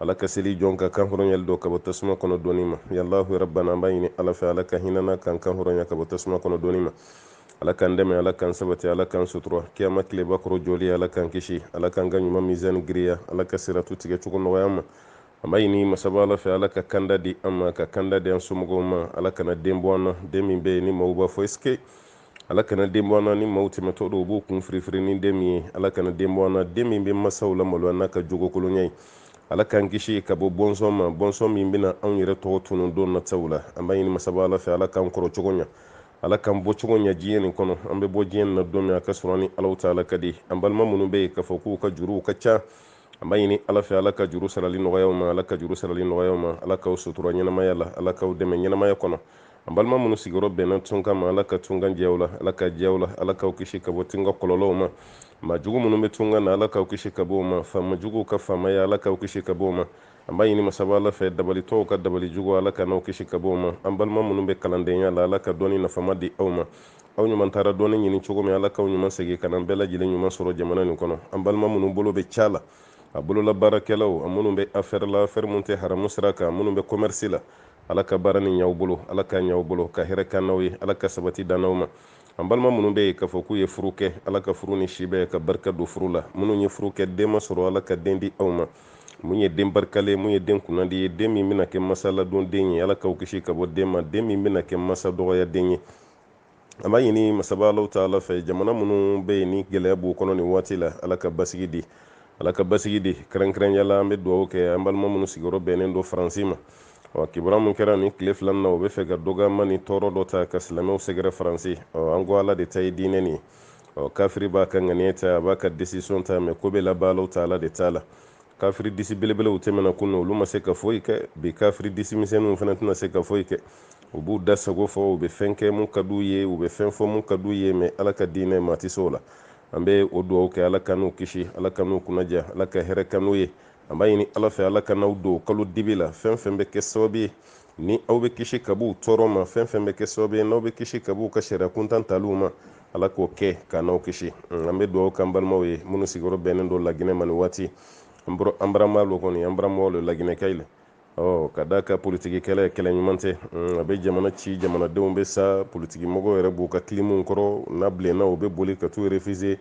ala ka seli jɔn ka kan hɔrɔnyali dɔ ka bɔ tasuma kɔnɔ donni ma ya alahu rabbana an b'a ɲini ala fɛ ala ka hinɛ an na k'an kan hɔrɔnya ka bɔ tasuma kɔnɔ donni ma ala k'an dɛmɛ ala k'an sabati ala k'an sutura kiyama tileba kɔrɔ jɔli ala k'an kisi ala k'an ka ɲuman mizani girinya ala ka siratu tigɛ cogo nɔgɔya an ma an b'a ɲini masaba ala fɛ ala ka kanda di an ma ka kanda di an somɔgɔw ma ala kana den bɔ an na den min bɛ yen ni maaw b'a fɔ esike ala kana den bɔ an na ni maaw tɛmɛtɔ don u b'u kun firifiri ni den min ye ala kana den bɔ an na den min bɛ masaw la maloya n'a ka jogo kolonya ye ala k'an kisi ka bɔ bɔnsɔn ma bɔnsɔn min bɛna anw yɛrɛ tɔgɔ tunun don nataw la an b'a ɲini masaba ala fɛ ala k'an kɔrɔ cogo ɲa ala k'an bɔ cogo ɲa diɲɛ nin kɔnɔ an bɛ bɔ diɲɛ nin na don min a k'a sɔrɔ an ni alahu taala ka di an balima minnu bɛ yen k'a fɔ k'u ka juruw ka ca an b'a ɲini ala fɛ ala ka juru sarali nɔgɔya aw ma ala ka juru sarali nɔgɔya aw ma ala k'aw sutura ɲɛnamaya la ala k'aw dɛmɛ ɲɛnamaya kɔnɔ an balima minnu sigiyɔrɔ bɛnna tunkan ma ala ka tunkan diya aw la ala k'a diya aw la ala k'aw kisi ka bɔ tunkan kɔlɔlɔw ma maa jugu minnu bɛ tunkan na ala k'aw kisi ka bɔ o ma faama juguw ka faamaya ala k'aw kisi ka bɔ o ma an b'a ɲini masaba ala fɛ dabalitɔw ka dabali jugu ala k'an n'aw kisi ka bɔ o ma an balima minnu bɛ kalandenya la ala ka dɔnni nafama di aw ma aw ɲuman taara dɔnni ɲini cogo min ala k'aw ɲuman segin ka na bɛɛ lajɛlen ɲuman sɔrɔ jamana nin kɔnɔ an balima minnu bolo bɛ ca la a bolola baarakɛlaw a minnu bɛ afɛri la afɛri minnu tɛ haramu sira kan minnu bɛ kɔmɛrisi la ala ka baara nin ɲa aw bolo ala k'a ɲa aw bolo ka hɛrɛ k'an n'aw ye ala ka sabati d'an n'aw ma an balima minnu bɛ yen k'a fɔ k'u ye furu kɛ ala ka furu ni si bɛn ka barika don furu la minnu ye furu kɛ den ma sɔrɔ ala ka den di aw ma mun ye den barikalen mun ye den kunnandi ye den min bɛna kɛ masa ladon den ye ala k'aw kisi ka bɔ den ma den min bɛna kɛ masa dɔgɔya den ye an b'a ɲini masaba alahu taala fɛ jamana minnu bɛ yen ni gɛlɛya b'u kɔnɔ nin waati la ala ka basigi di ala ka basigi di kɛrɛnkɛrɛnya la an bɛ dugawu kɛ an balima minnu sigiyɔrɔ bɛnnen don faransi ma ɔ kibaruya min kɛra nin tile fila nin na u b'a fɛ ka dɔgɔyama ni tɔɔrɔ dɔ ta ka silamɛw sɛgɛrɛ faransi ɔ an ko ala de ta ye diinɛ nin ye ɔ kafiri b'a ka ŋaniya ta a b'a ka desisɔn ta mɛ ko bɛ laban alahu taala de ta la kafiri disi belebelew tɛmɛna kunun olu ma se ka foyi kɛ bi kafiri disi misɛnninw fana tɛna se ka foyi kɛ u b'u da sago fɔ u bɛ fɛn kɛ mun ka d'u ye u bɛ fɛn fɔ mun ka d'u ye mɛ ala ka diinɛ maa tɛ se o la an bɛ o dugawu kɛ ala k'an n'u kisi ala k'an n'u kunnadiya ala ka hɛrɛ k'an n'u ye an b'a ɲini ala fɛ ala k'an n'aw don kalo dibi la fɛn fɛn bɛ kɛ sababu ye ni aw bɛ kisi ka b'u tɔɔrɔ ma fɛn fɛn bɛ kɛ sababu ye n'aw bɛ kisi ka b'u ka sariya kuntan taliw ma ala k'o kɛ k'an n'aw kisi an bɛ dugawu k'an balimaw ye minnu sigiyɔrɔ bɛnnen don laginɛ ma nin waati an barama lo kɔni an baramaw lo laginɛ kayi la ɔ ka d'a kan politiki kɛlɛ kɛlɛ ɲuman tɛ mm, a bɛ jamana ci jamanadenw bɛ sa politiki mɔgɔw yɛrɛ b'u ka kilimuw kɔrɔ n'a bilenna u bɛ boli ka t'u refize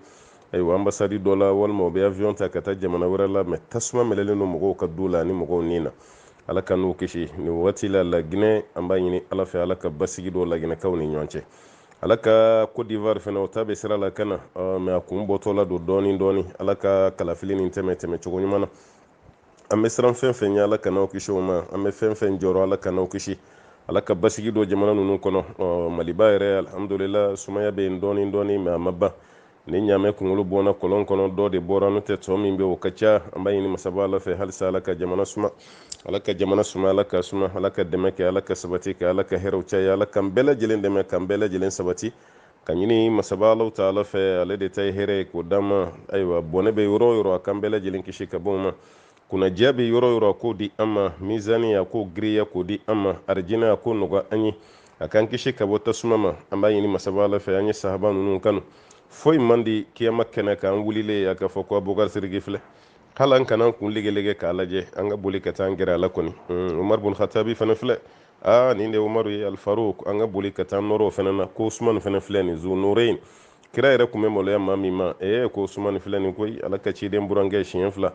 ayiwa anbasadi dɔ la walima u bɛ avion ta ka taa jamana wɛrɛ la mɛ tasuma mɛnɛnen don mɔgɔw ka du la ni mɔgɔw ni na ala k'an n'u kisi nin wagati la laginɛ an b'a ɲini ala fɛ ala ka basigi don laginɛkaw ni ɲɔgɔn cɛ ala ka cote d'ivoire fana o ta bɛ sira la ka na mɛ a kun bɔtɔ la don dɔɔni dɔɔni ala ka kalafili nin tɛmɛ tɛmɛ cogo ɲuman na an bɛ siran fɛn fɛn ɲɛ ala k'an n'aw kisi o ma an bɛ fɛn fɛn jɔrɔ ala k'an n'aw kisi ala ka basigi don jamana ninnu kɔnɔ maliba yɛrɛ alihamudulila sumaya bɛ yen dɔɔnin dɔɔnin mɛ a ma ban ni ɲaamɛ kunkolo bɔnna kɔlɔn kɔnɔ dɔ de bɔra n'o tɛ tɔ min bɛ o ka ca an b'a ɲini masaba ala fɛ halisa ala ka jamana suma ala ka jamana suma ala ka suma ala ka dɛmɛ kɛ ala ka sabati kɛ ala ka hɛrɛw caya ala k'an bɛɛ lajɛlen dɛmɛ k'an bɛɛ lajɛlen sabati k'a ɲini masaba ala taala fɛ ale de ta ye hɛrɛ ye k'o d'an ma ayiwa bɔnɛ bɛ yɔrɔ yɔrɔ a k'an bɛɛ lajɛlen kisi ka bɔ o ma kunnadiya bɛ yɔrɔ yɔrɔ a k'o di an ma mizani a k'o giriya k'o di an ma arijinɛ a k'o nɔgɔya an ye a k'an kisi ka bɔ tasuma ma an b'a ɲini masaba ala fɛ an ye sahaba ninnu kanu foyi man di kiyama kɛnɛ kan wulilen a k'a fɔ ko abubakar siriki filɛ hali an kana an kun legelege k'a lajɛ an ka boli ka taa an gɛrɛ a la kɔni umaru bun hatabi fana filɛ aa nin de umaru ye alfaruk an ka boli ka taa an nɔrɔ o fana na ko usumani fana filɛ nin zunurein kira yɛrɛ tun bɛ maloya maa min ma ee ko usumani filɛ nin koyi ala ka ciden burankɛ siɲɛ fila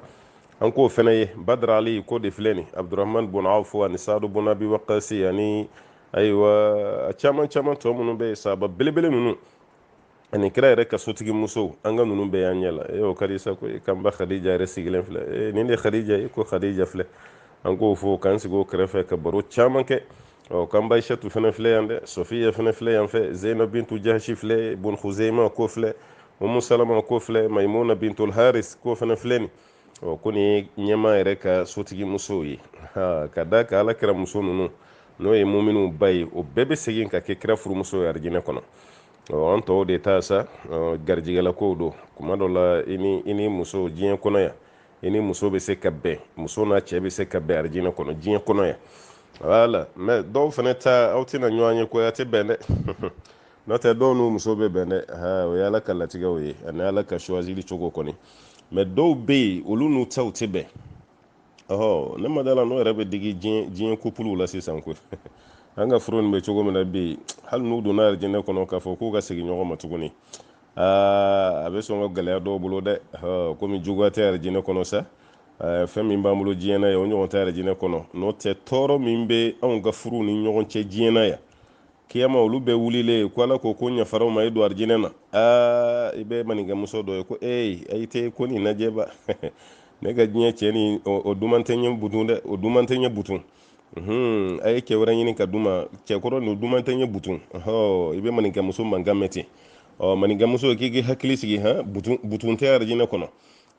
an k'o fana ye badara ali k'o de filɛ nin abdurahman bun awfu ani sadu bun abi wakasi ani ayiwa a caman caman tɔ minnu bɛ yen sahaba belebele ninnu ani kira yɛrɛ ka sotigi musow an ka ninnu bɛɛ y'an ɲɛ la e o ka di sa koyi k'an ba khadija yɛrɛ sigilen filɛ e nin de khadija e ko khadija filɛ an k'o fo k'an sigi o kɛrɛfɛ ka baro caman kɛ ɔ k'an ba ayishatu fɛnɛ filɛ yan dɛ sofiya fɛnɛ filɛ yan fɛ zeyina bintu jahasi filɛ bun huzeima k'o filɛ umu salama k'o filɛ maimuna bintul haris k'o fɛnɛ filɛ nin ɔ kɔni ɲɛmaa yɛrɛ ka sotigi musow ye ka d'a kan ala kira muso ninnu n'o ye muminw ba ye o bɛɛ bɛ segin ka kɛ kira furumuso ye arijinɛ kɔnɔ ɔ an tɔw de ta sa garijigɛlakow don kuma dɔ la i ni i n'i muso diɲɛ kɔnɔ yan i n'i muso bɛ se ka bɛn muso n'a cɛ bɛ se ka bɛn arijinɛ kɔnɔ diɲɛ kɔnɔ yan wala mɛ dɔw fana ta aw tɛna ɲɔgɔn ye koyi a tɛ bɛn dɛ n'o tɛ dɔw n'u muso bɛ bɛn dɛ o ye ala ka latigɛw ye ani ala ka suwazili cogo kɔni mɛ dɔw bɛ yen olu n'u cɛw tɛ bɛn ɔhɔ ne ma da a la n'o yɛrɛ bɛ digi diɲɛ kopuluw la sisan koyi an ka furu nin bɛ cogo min na bi yen hali n'u donna arijinɛ kɔnɔ k'a fɔ k'u ka segin ɲɔgɔn ma tuguni aa a bɛ sɔn ka gɛlɛya dɔw bolo dɛ komi juguya tɛ arijinɛ kɔnɔ sa fɛn min b'an bolo diɲɛ na yan o ɲɔgɔn tɛ arijinɛ kɔnɔ n'o tɛ tɔɔrɔ min bɛ anw ka furu ni ɲɔgɔn cɛ diɲɛ na yan kiyama olu bɛɛ wulilen ko ala ko ko n yafara u ma i don arijinɛ na aa i bɛ maninkɛmuso dɔ ye ko ee ayi tɛ ko nin lajɛba ne ka diɲɛ cɛ nin o duman tɛ n ɲɛ butun dɛ o duman tɛ n ɲɛ butun a ye cɛ wɛrɛ ɲini ka di n ma cɛkɔrɔ nin o duman tɛ n ɲɛ butun ɔhɔ i bɛ maninkɛmuso mankan mɛn ten ɔ maninkɛmuso k'i k'i hakili sigi han butun butun tɛ arijinɛ kɔnɔ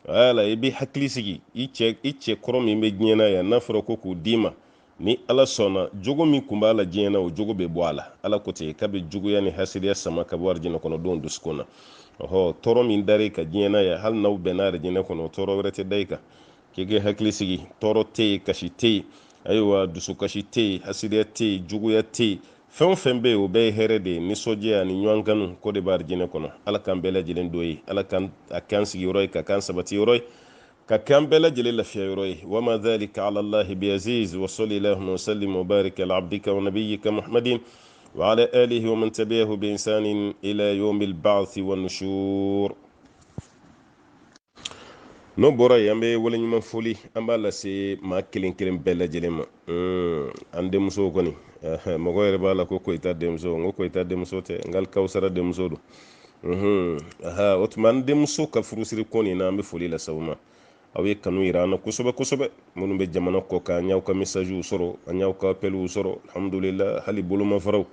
wala i b'i hakili sigi i cɛ i cɛ kɔrɔ min bɛ diɲɛ na yan n'a fɔra ko k'o d'i ma Ni Ala sɔnna, jogo min kun b'a la diɲɛ na, o jogo bɛ bɔ a la. Ala ko ten, k'a bɛ juguya ni hasidiya sama ka bɔ arijinɛkɔnɔdenw dusukun na. Ɔhɔ, tɔɔrɔ min dara i kan diɲɛ na yan, hali n'aw bɛnna arijinɛ kɔnɔ, o tɔɔrɔ wɛrɛ tɛ da i kan. K'i k'i hakili sigi, tɔɔrɔ tɛ yen, kasi tɛ yen, ayiwa dusukasi tɛ yen, hasidiya tɛ yen, juguya tɛ yen. Fɛn o fɛn bɛ yen, o bɛɛ ye hɛrɛ de ye, nisɔndiya ani ɲɔgɔn kanu ko de bɛ arijinɛ kɔnɔ. Ala k'an bɛɛ lajɛlen don yen. Ala ka a kɛ an sigiyɔrɔ ye, k'a kɛ an sabatiyɔrɔ ye. k'a kɛ an bɛɛ lajɛlen lafiya yɔrɔ ye wa ma dhalika ala allahi biaziz wa salli allahumma wasallim wa barik ala abdika wa nabiyika muhammadin wa ala alihi wa man tabi'ahu bi ihsanin ila yawmi al-ba'thi wa nushur n'o bɔra yen an bɛ waleɲuman foli an b'a lase maa kelen kelen bɛɛ lajɛlen ma an denmuso kɔni mɔgɔ yɛrɛ b'a la ko koyita denmuso n ko koyita denmuso tɛ nka kawusara denmuso don o tuma an denmuso ka furusiri ko nin na an bɛ foli lase aw ma aw ye kanu yira an na kosɛbɛ kosɛbɛ minnu bɛ jamana kɔ kan an y'aw ka misaziw sɔrɔ an y'aw ka apɛliw sɔrɔ alhamdulila hali bolomafaraw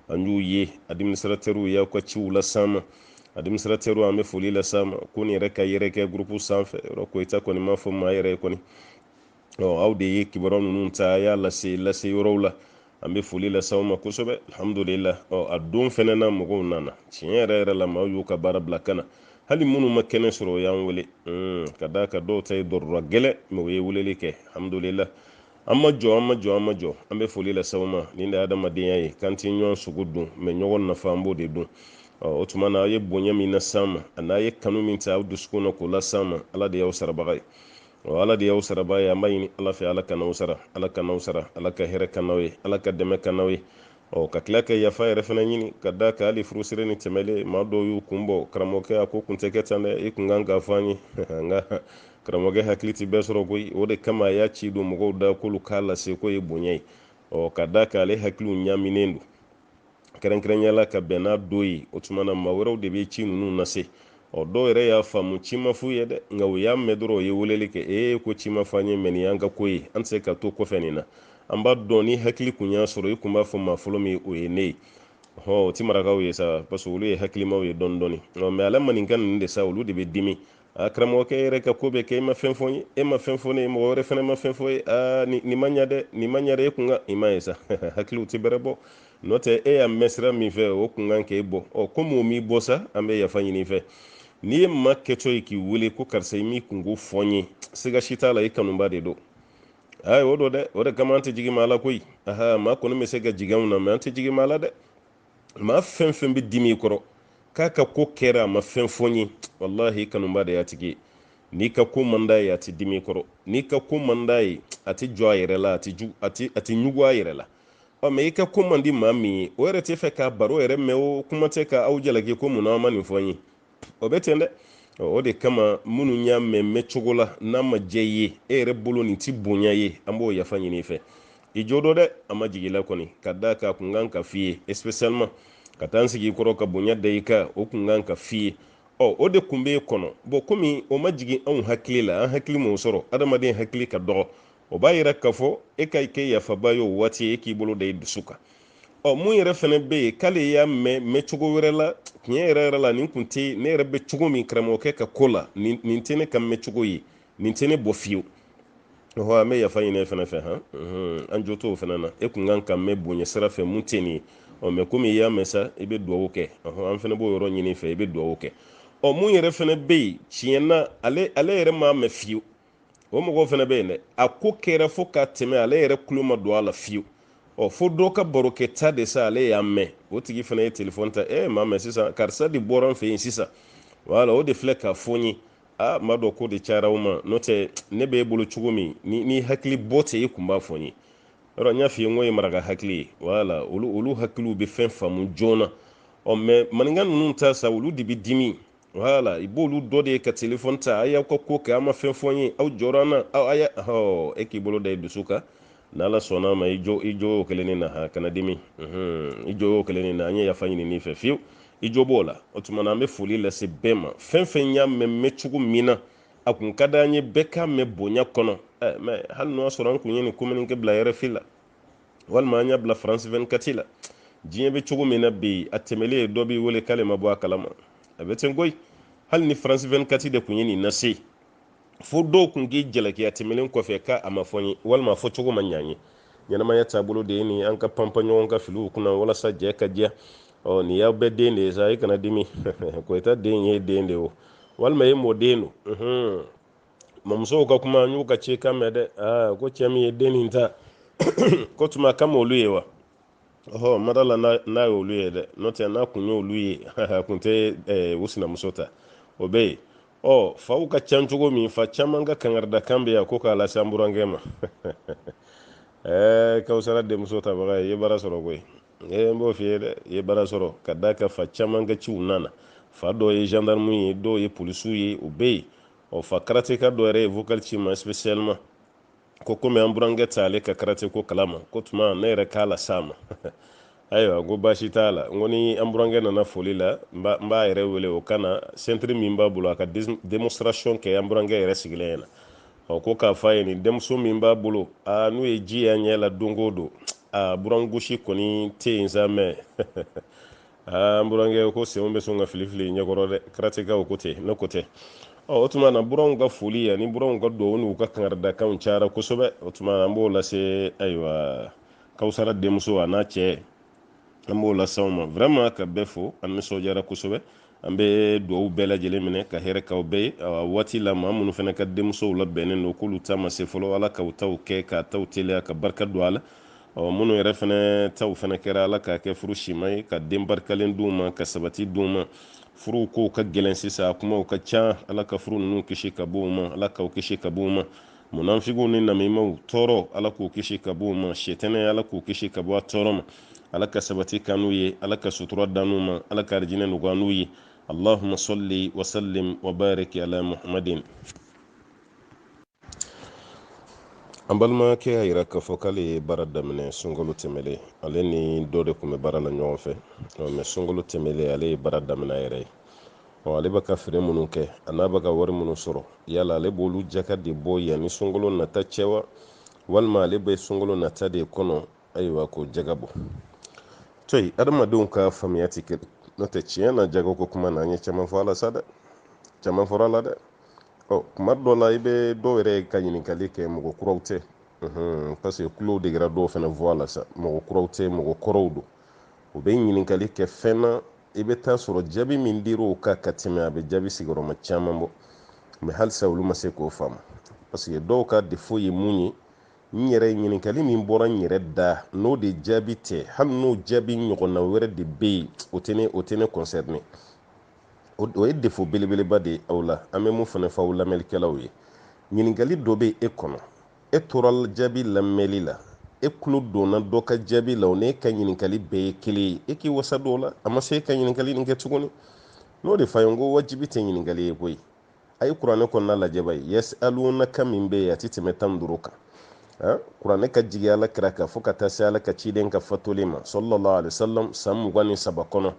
an y'u ye adiminisitratɛriw y'aw ka ciw las'an ma adiminisitratɛriw an bɛ foli las'aw ma ko nin yɛrɛ ka yɛrɛkɛ gurupu sanfɛ yɔrɔ koyita kɔni m'a fɔ maa yɛrɛ ye kɔni aw de ye kibaru ninnu ta y'a lase lase yɔrɔw la an bɛ foli lase aw ma kosɛbɛ alhamdulila a don fɛnɛ na mɔgɔw nana tiɲɛ yɛrɛ yɛrɛ la maaw y'u ka baara bila ka na hali minnu ma kɛnɛ sɔrɔ u y'an wele ka d'a kan dɔw ta ye tɔɔrɔ gɛlɛn mɛ u ye weleli kɛ alhamdulila an ma jɔn an ma jɔn an ma jɔn an bɛ foli lase aw ma nin de ye adamadenya ye k'an tɛ ɲɔgɔn sogo dun mɛ ɲɔgɔn nafa an b'o de dun o tuma na aw ye bonya min las'an ma an'aw ye kanu min ta aw dusukun na k'o las'an ma ala de y'aw sarabaga ye o ala de y'aw sarabaa ye an b'a ɲini ala fɛ ala k'an n'aw sara ala k'an n'aw sara ala ka hɛrɛ k'an n'aw ye ala ka dɛmɛ k'an n'aw ye ɔ ka tila ka yafa yɛrɛ fana ɲini ka d'a kan hali furusiri nin tɛmɛlen maa dɔw y'u kun bɔ karamɔgɔkɛ a ko kun tɛ kɛ tan dɛ i kun kan k'a fɔ an ye nka karamɔgɔkɛ hakili tɛ bɛɛ sɔrɔ koyi o de kama a y'a ci don mɔgɔw da k'olu k'a lase k'o ye bonya ye ɔ ka d'a kan ale hakiliw ɲaminen don kɛrɛnkɛrɛnya la ka bɛn n'a don ye o tuma na maa wɛrɛw de bɛ ci ninnu lase ɔ dɔw yɛrɛ y'a faamu ci ma f'u ye dɛ nka u y'a mɛn dɔrɔn u ye weleli kɛ ee ko ci ma fɔ an ye mɛ nin y'an ka ko ye an tɛ se ka to kɔfɛ nin na an b'a dɔn n'i hakili kun y'a sɔrɔ i kun b'a fɔ maa fɔlɔ min o ye ne ye hɔn o ti marakaw ye sa parce que olu ye hakilimaw ye dɔɔni dɔɔni mɛ ala maninka ninnu de sa olu de bɛ dimi a karamɔgɔkɛ yɛrɛ ka ko bɛ kɛ i ma fɛn fɔ n ye e ma fɛn fɔ ne ye mɔgɔ wɛrɛ fana ma fɛn fɔ n ye aa nin ma ɲa dɛ nin ma ɲa dɛ e kun kan i m'a ye sa hakiliw tɛ bɛrɛ bɔ n'o tɛ e y'a mɛn sira min fɛ o kun kan k'e bɔ ɔ komi o m'i bɔ sa an bɛ yafa ɲini i fɛ n'i ye maa kɛtɔ ye k'i wele ko karisa i m'i kunko fɔ n ye siga si t'a la i kanubaa de don ayi o don dɛ o de kama an tɛ jigin maa la koyi aha maa kɔni bɛ se ka jigin anw na mɛ an tɛ jigin maa la dɛ maa fɛn fɛn bɛ dimi i kɔrɔ k'a ka ko kɛra a ma fɛn fɔ n ye walahi i kanubaa de y'a tigi ye n'i ka ko man d'a ye a tɛ dimi i kɔrɔ n'i ka ko man d'a ye a tɛ jɔ a yɛrɛ la a tɛ ɲugu a yɛrɛ la ɔ mɛ i ka ko man di maa min ye o yɛrɛ tɛ fɛ k'a baro yɛrɛ mɛ o kuma tɛ ka aw jalaki ko mun na aw ma nin fɔ n ye o bɛ ten dɛ o de kama minnu y'a mɛn mɛn cogo la n'a ma jɛ ye e yɛrɛ bolo nin tɛ bonya ye an b'o yafa ɲini i fɛ i jo don dɛ an ma jigila kɔni ka da ka kun kan ka f'i ye espesiyaliman ka taa n sigi i kɔrɔ ka bonya da i kan o kun kan ka f'i ye ɔ o de kun b'e kɔnɔ bɔn komi o ma jigin anw hakili la an hakili m'o sɔrɔ adamaden hakili ka dɔgɔ o b'a yira k'a fɔ e k'i kɛ yafabaa ye o waati e k'i bolo da i dusu kan ɔ mun yɛrɛ fɛnɛ bɛ yen k'ale y'a mɛn mɛn cogo wɛrɛ la tiɲɛ yɛrɛ yɛrɛ la nin kun tɛ ne yɛrɛ bɛ cogo min karamɔgɔkɛ ka ko la nin nin tɛ ne ka mɛn cogo ye nin tɛ ne bɔ fiyewu ɔhɔ an bɛ yafa ɲini e fɛnɛ fɛ han an jo t'o fɛnɛ na e kun kan k'a mɛn bonya sira fɛ mun tɛ nin ye ɔ mɛ komi i y'a mɛn sa i bɛ dugawu kɛ ɔhɔ an fɛnɛ b'o yɔrɔ ɲini i fɛ i bɛ dugawu kɛ ɔ mun yɛrɛ fɛnɛ bɛ yen tiɲɛ na ale ale yɛrɛ m'a mɛn fiyewu o mɔgɔw fana bɛ yen dɛ a ko kɛra fo ka tɛmɛ ale yɛrɛ kulo ma don a la fiyewu ɔ fo dɔ ka barokɛ ta de sa ale y'a mɛn o tigi fana ye telefɔni ta ee maa mɛ sisan karisa de bɔra n fɛ yen sisan wala o de filɛ k'a fɔ n ye a ma dɔn ko de cayara o ma n'o tɛ ne bɛ e bolo cogo min ni hakilibɔ tɛ e kun b'a fɔ n ye yɔrɔ n y'a f'i ye n ko ye maraka hakili ye wala olu olu hakiliw bɛ fɛn faamu joona ɔ mɛ maninka ninnu ta sa olu de bɛ dimi wala i b'olu dɔ de ye ka telefɔni ta a y'aw ka ko kɛ a ma fɛn fɔ n ye aw jɔra an na aw a y'a hɔ e k'i bolo da i dusu kan n'ala sɔnna ma i jo i jo y'o kelen nin na ha kana dimi i jo y'o kelen nin na an ye yafa ɲini n'i fɛ fiyewu i jo b'o la o tuma na an bɛ foli lase bɛɛ ma fɛn fɛn y'a mɛn mɛn cogo min na a kun ka d'an ye bɛɛ k'a mɛn bonya kɔnɔ mɛ hali n'o y'a sɔrɔ an kun ye nin kominike bila rfi la walima an y'a bila faransi 24 la diɲɛ bɛ cogo min na bi a tɛmɛlen dɔ b'i wele k'ale ma bɔ a kalama a bɛ ten koyi hali ni faransi 24 de tun ye nin lase fo dɔw tun k'i jalaki a tɛmɛlen kɔfɛ k'a a ma fɔ n ye walima a fɔ cogo ma ɲa n ye ɲɛnamaya taabolo de ye nin an ka panpan ɲɔgɔn ka filiw kunna walasa jɛ ka diya ɔ nin y'aw bɛɛ den de ye sa i kana dimi koyita den ye den de ye o walima e mɔden don mamusow ka kuma n y'u ka cikan mɛn dɛ aa ko cɛ min ye den nin ta ko tuma k'a ma olu ye wa ɔhɔ n ma da a la n'a ye olu ye dɛ n'o tɛ n'a kun ye olu ye a kun tɛ eh, u sinamuso ta o bɛ yen ɔ faw ka ca cogo min fa caman ka kankarida kan bɛ yan ko k'a lase an burankɛ ma ɛɛ eh, kawusara denmuso tabaga ye i ye baara sɔrɔ koyi ee eh, n b'o f'i ye dɛ i ye baara sɔrɔ ka d'a kan fa caman ka ciw nana fa dɔw ye gendarme ye dɔw ye polisiw ye u bɛ yen ɔ fa karateka dɔ yɛrɛ ye vocal ci n ma spécialement ko komi an burankɛ tɛ ale ka karate ko kalama k'o tuma ne yɛrɛ k'a las'a ma ayiwa ko baasi t'a la n ko ni an burankɛ nana foli la n b'a yɛrɛ wele o ka na sentiri min b'a bolo a ka démonstration kɛ an burankɛ yɛrɛ sigilen ɲɛna ɔ ko k'a fɔ a ye nin denmuso min b'a bolo aa n'u ye ji y'a ɲɛ la don o don a burangosi kɔni tɛ yen sa mɛ aa n burankɛ ko senw bɛ sɔn ka filifili ɲɛkɔrɔ dɛ karatekaw ko tɛ ne ko tɛ o tuma na buranw ka foli ani buranw ka dugawu n'u ka kangaridakanw cayara kosɛbɛ o tuma an b'o lase ayiwa kawusara denmuso a n'a cɛ an b'o lase aw ma vraiment ka bɛɛ fo an nisɔndiyara kosɛbɛ an bɛ dugawu bɛɛ lajɛlen minɛ ka hɛrɛ k'aw bɛɛ ye awa waati la maa minnu fana ka denmusow labɛnnen don k'olu ta ma se fɔlɔ ala k'aw taw kɛ k'aw taw teliya ka barika don a la ɔ minnu yɛrɛ fana taw fana kɛra ala k'a kɛ furu sima ye ka den barikalen d'u ma ka sabati d'u ma furu kow ka gɛlɛn sisan a kumaw ka ca ala ka furu ninnu kisi ka bɔ u ma ala k'aw kisi ka bɔ u ma munafigiw ni namimaw tɔɔrɔ ala k'u kisi ka bɔ u ma sitanɛ ala k'u kisi ka bɔ a tɔɔrɔ ma ala ka sabati k'an n'u ye ala ka sutura d'an n'u ma ala ka arijinɛ nɔgɔya an n'u ye allahuma salli wasallim wabarik ala muhammadin an balimakɛ y'a yira k'a fɔ k'ale ye baara daminɛ sunkalo tɛmɛlen ale ni dɔ de tun bɛ baara la ɲɔgɔn fɛ mɛ sunkalo tɛmɛlen ale ye baara daminɛ a yɛrɛ ye ale bɛ ka feere minnu kɛ a n'a bɛ ka wari minnu sɔrɔ yala ale b'olu jaka de bɔ yanni sunkalo nata cɛ wa walima ale bɛ sunkalo nata de kɔnɔ ayiwa ko jaka bɔ to yen adamadenw ka faamuya tɛ kelen n'o tɛ tiɲɛ na jago ko kuma na an ye caman fɔ a la sa dɛ caman fɔra a la dɛ ɔ tuma dɔ la i bɛ dɔw yɛrɛ ka ɲininkali kɛ mɔgɔ kuraw tɛ parce que kulow degera dɔw fana voix la sa mɔgɔ kuraw tɛ mɔgɔ kɔrɔw don u bɛ ɲininkali kɛ fɛn na i bɛ taa sɔrɔ jaabi min dira o kan ka tɛmɛ a bɛ jaabi sigiyɔrɔma caman bɔ mɛ halisa olu ma se k'o faamu parce que dɔw ka defo ye mun ye n yɛrɛ ye ɲininkali min bɔra n yɛrɛ da n'o de jaabi tɛ hali n'o jaabi ɲɔgɔnna wɛrɛ de bɛ yen o tɛ ne o tɛ ne kɔnsɛrine o ye defo belebeleba de ye aw la an bɛ mun fana fɔ aw lamɛnlikɛlaw ye ɲininkali dɔ bɛ e kɔnɔ e tora jaabi lamɛnli la e tulo donna dɔ ka jaabi la o n'e ka ɲininkali bɛɛ ye kelen ye e k'i wasa don o la a ma se e ka ɲininkali nin kɛ tuguni n'o de f'aw ye n ko wajibi tɛ ɲininkali ye koyi a ye kuranɛ kɔnɔna lajɛ ba ye yasalunaka min bɛ yen a tɛ tɛmɛ tan ni duuru kan kuranɛ ka jigin ala kira kan fo ka taa se ala ka ciden ka fatulen ma sallallahu alaihi wasallam san mugan ni saba kɔnɔ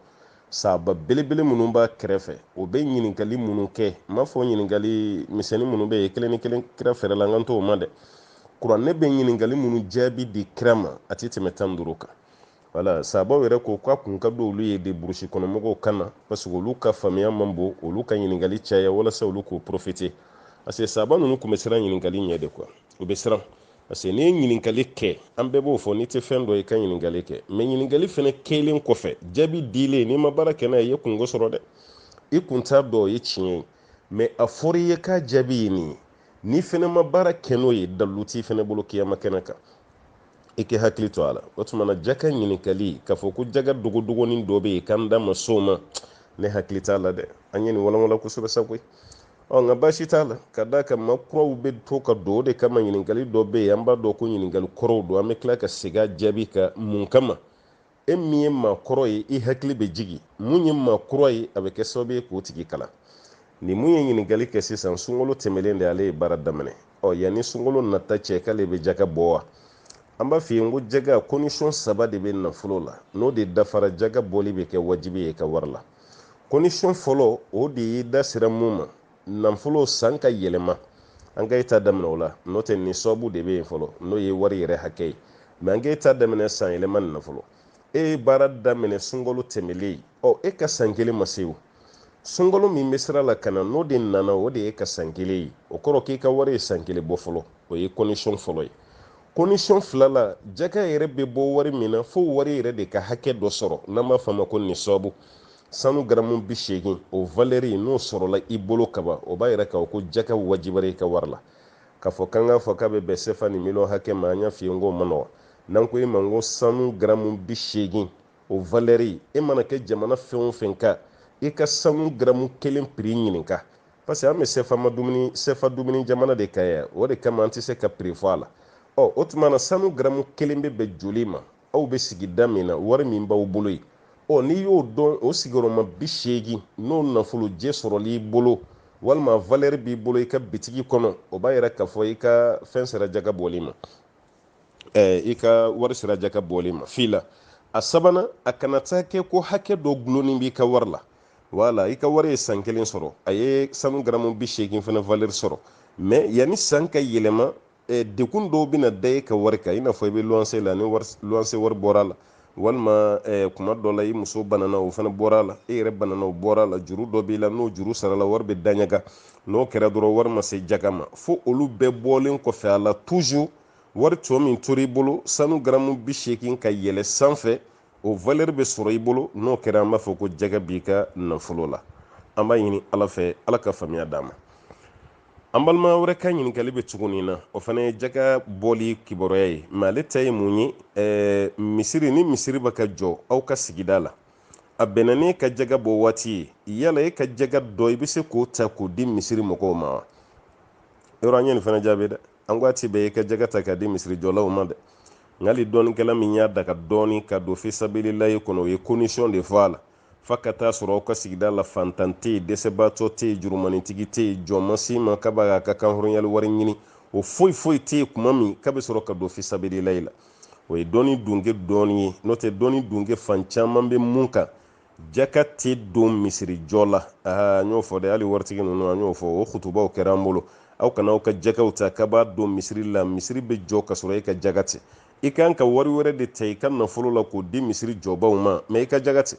sahaba belebele minnu b'a kɛrɛfɛ o bɛ ɲininkali minnu kɛ n m'a fɔ ɲininkali misɛnnin minnu bɛ yen kelen ni kelen kira yɛrɛ la n kan t'o ma dɛ kuranɛ bɛ ɲininkali minnu jaabi di kira ma a tɛ tɛmɛ tan ni duuru kan wala sabaw yɛrɛ ko k'a kun ka d'olu ye de burusi kɔnɔmɔgɔw ka na parce que olu ka faamuya man bon olu ka ɲininkali caya walasa olu k'o profite parce que saba ninnu tun bɛ siran ɲininkali ɲɛ de quoi u bɛ siran parce que n'i ye ɲininkali kɛ an bɛɛ b'o fɔ n'i tɛ fɛn dɔn i ka ɲininkali kɛ mɛ ɲininkali fana kɛlen kɔfɛ jaabi dilen n'i ma baara kɛ n'a ye i ye kunko sɔrɔ dɛ i kun t'a dɔn o ye tiɲɛ ye mɛ a fɔra i ye k'a jaabi ye nin ye n'i fana ma baara kɛ n'o ye dalu t'i fana bolo kiyama kɛnɛ kan i k'i hakili to a la o tuma na jaka ɲininkali k'a fɔ ko jaka dogodogoni dɔ bɛ yen k'an da ma s'o ma ne hakili t'a la dɛ an ye nin walawala kosɛbɛ sa koyi ɔ nka baasi t'a la ka d'a kan maa kuraw bɛ to ka don o de kama ɲininkali dɔ bɛ yen an b'a dɔn ko ɲininkali kɔrɔw don an bɛ tila ka segin a jaabi kan mun kama e min ye maa kɔrɔ ye i hakili bɛ jigin mun ye maa kura ye a bɛ kɛ sababu ye k'o tigi kalan ni mun ye ɲininkali kɛ sisan sunkalo tɛmɛlen de ale ye baara daminɛ ɔ yanni sunkalo nata cɛ k'ale bɛ jaka bɔ wa an b'a f'i ye ko jaka kɔndisɔn saba de bɛ nafolo la n'o de dafara jaka bɔli bɛ kɛ wajibi y'i ka wari la kɔndisɔn fɔlɔ o de ye da sera mun ma nafolo san ka yɛlɛma an ka ta daminɛ o la n'o tɛ nisabu de bɛ yen fɔlɔ n'o ye wari yɛrɛ hakɛ ye mɛ an ka ta daminɛ san yɛlɛma nin na fɔlɔ e ye baara daminɛ sunkalo tɛmɛlen ɔ e ka san kelen ma se o sunkalo min bɛ sira la ka na n'o de nana o de y'i ka san kelen ye o kɔrɔ k'i ka wari ye san kelen bɔ fɔlɔ o ye kɔndisɔn fɔlɔ ye kɔndisɔn filanan jaka yɛrɛ bɛ bɔ wari min na fo wari yɛrɛ de ka hakɛ dɔ sɔrɔ n'an b'a fɔ a ma ko nisabu sanu garamu bi seegin o valɛri n'o sɔrɔla i bolo kaban o b'a yira k'a fɔ ko jaka wajibara i ka wari la k'a fɔ k'an k'a fɔ k'a bɛ bɛn sefa ni miliyɔn hakɛ ma an y'a f'i ye n k'o man nɔgɔ n'an ko e ma n ko sanu garamu bi seegin o valɛri e mana kɛ jamana fɛn o fɛn kan i ka sanu garamu kelen piri ɲininka parce que an bɛ sefa ma dumuni sefa dumuni jamana de kan yan o de kama an tɛ se ka piri fɔ a la ɔ o tuma na sanu garamu kelen bɛ bɛn joli ma aw bɛ sigida min na wari min b'aw bolo ye ɔ n'i y'o dɔn o sigiyɔrɔma bi seegin n'o nafolojɛ sɔrɔl'i bolo walima valɛri b'i bolo i ka bitigi kɔnɔ o b'a yira k'a fɔ i ka fɛn sera jaga bɔli ma i ka wari sera jaga bɔli ma fila a sabanan a kana taa kɛ ko hakɛ dɔ gulonni b'i ka wari la wala i ka wari ye san kelen sɔrɔ a ye sanu garamu bi seegin fana valɛri sɔrɔ mɛ yanni san ka yɛlɛma eh, degun dɔw bɛna da e ka wari kan i n'a fɔ i bɛ luwanse la ni luwanse wari bɔra la walima eh, kuma dɔ la i muso banana o fana bɔra la e yɛrɛ banana o bɔra la juru dɔ b'i la n'o juru sarala wari bɛ daɲaga n'o kɛra dɔrɔn wari ma se jaga ma fo olu bɛɛ bɔlen kɔfɛ a la toujours wari tɔ min tora i bolo sanu garamu bi seegin ka yɛlɛ sanfɛ o valeur bɛ sɔrɔ i bolo n'o kɛra an b'a fɔ ko jaka b'i ka nafolo la an b'a ɲini ala fɛ ala ka faamuya d'an ma an balima wɛrɛ ka ɲininkali bɛ tugu nin na o fana ye jaga bɔli kibaruya ye mɛ ale ta ye mun ye ɛɛ misiri ni misiri bɛ ka jɔ aw ka sigida la a bɛnna n'e ka jaga bɔ waati ye yala e ka jaga dɔ i bɛ se k'o ta k'o di misiri mɔgɔw ma wa yɔrɔ an ye nin fana jaabi dɛ an ko a ti bɛn e ka jaga ta k'a di misirijɔlaw ma dɛ nka hali dɔnnikɛla min y'a daga dɔɔni ka don fisabililayi kɔnɔ o ye kɔndisɔn de fɔ a la fa ka taa sɔrɔ aw ka sigida la fantan tɛ yen dɛsɛbaatɔ tɛ yen jurumantigi tɛ yen jɔn ma se ma k'a b'a k'a ka kanhɔrɔnyali wari ɲini o foyi foyi tɛ yen kuma min k'a bɛ sɔrɔ ka don fisabililayi la o ye dɔnni dunke dɔɔni ye n'o tɛ dɔnni dunke fan caman bɛ mun kan jaka tɛ don misirijɔ la an y'o fɔ dɛ hali waritigi ninnu an y'o fɔ o kutubaw kɛra an bolo aw kana aw ka jakaw ta k'a b'a don misiri la misiri bɛ jɔ ka sɔrɔ e ka jaka tɛ i ka kan ka wari wɛrɛ de ta i ka nafolo la k'o di misiri jɔbaw ma mɛ i ka jaga tɛ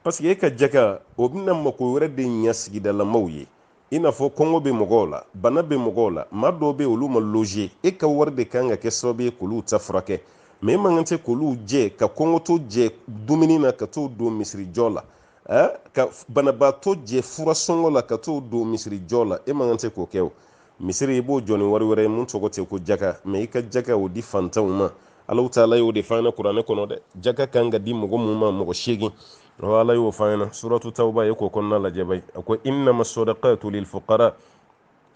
paseke e ka jaga o bɛna mako wɛrɛ de ɲɛ sigidalamaw ye i n'a fɔ kɔngɔ bɛ mɔgɔw la bana bɛ mɔgɔw la maa dɔw bɛ olu ma loje e ka wari de kan ka kɛ sababu ye k'olu ta furakɛ mɛ e man kan tɛ k'olu jɛ ka kɔngɔtɔ jɛ dumuni na ka t'o don misirijɔ la ka banabaatɔ jɛ fura sɔngɔ la ka t'o don misirijɔ la e man kan tɛ k'o kɛ o misiri i b'o jɔ ni wari wɛrɛ ye mun tɔgɔ tɛ ko jaka mɛ i ka jaka o di fantanw ma alahu taala y'o de f'an ɲɛna kuranɛ kɔnɔ dɛ jaka kan ka di mɔgɔ mun ma mɔgɔ seegin ɔ ala y'o f'an ɲɛna suratu tawba ye k'o kɔnɔna lajɛ bayi a ko innama sadakatu lilfukara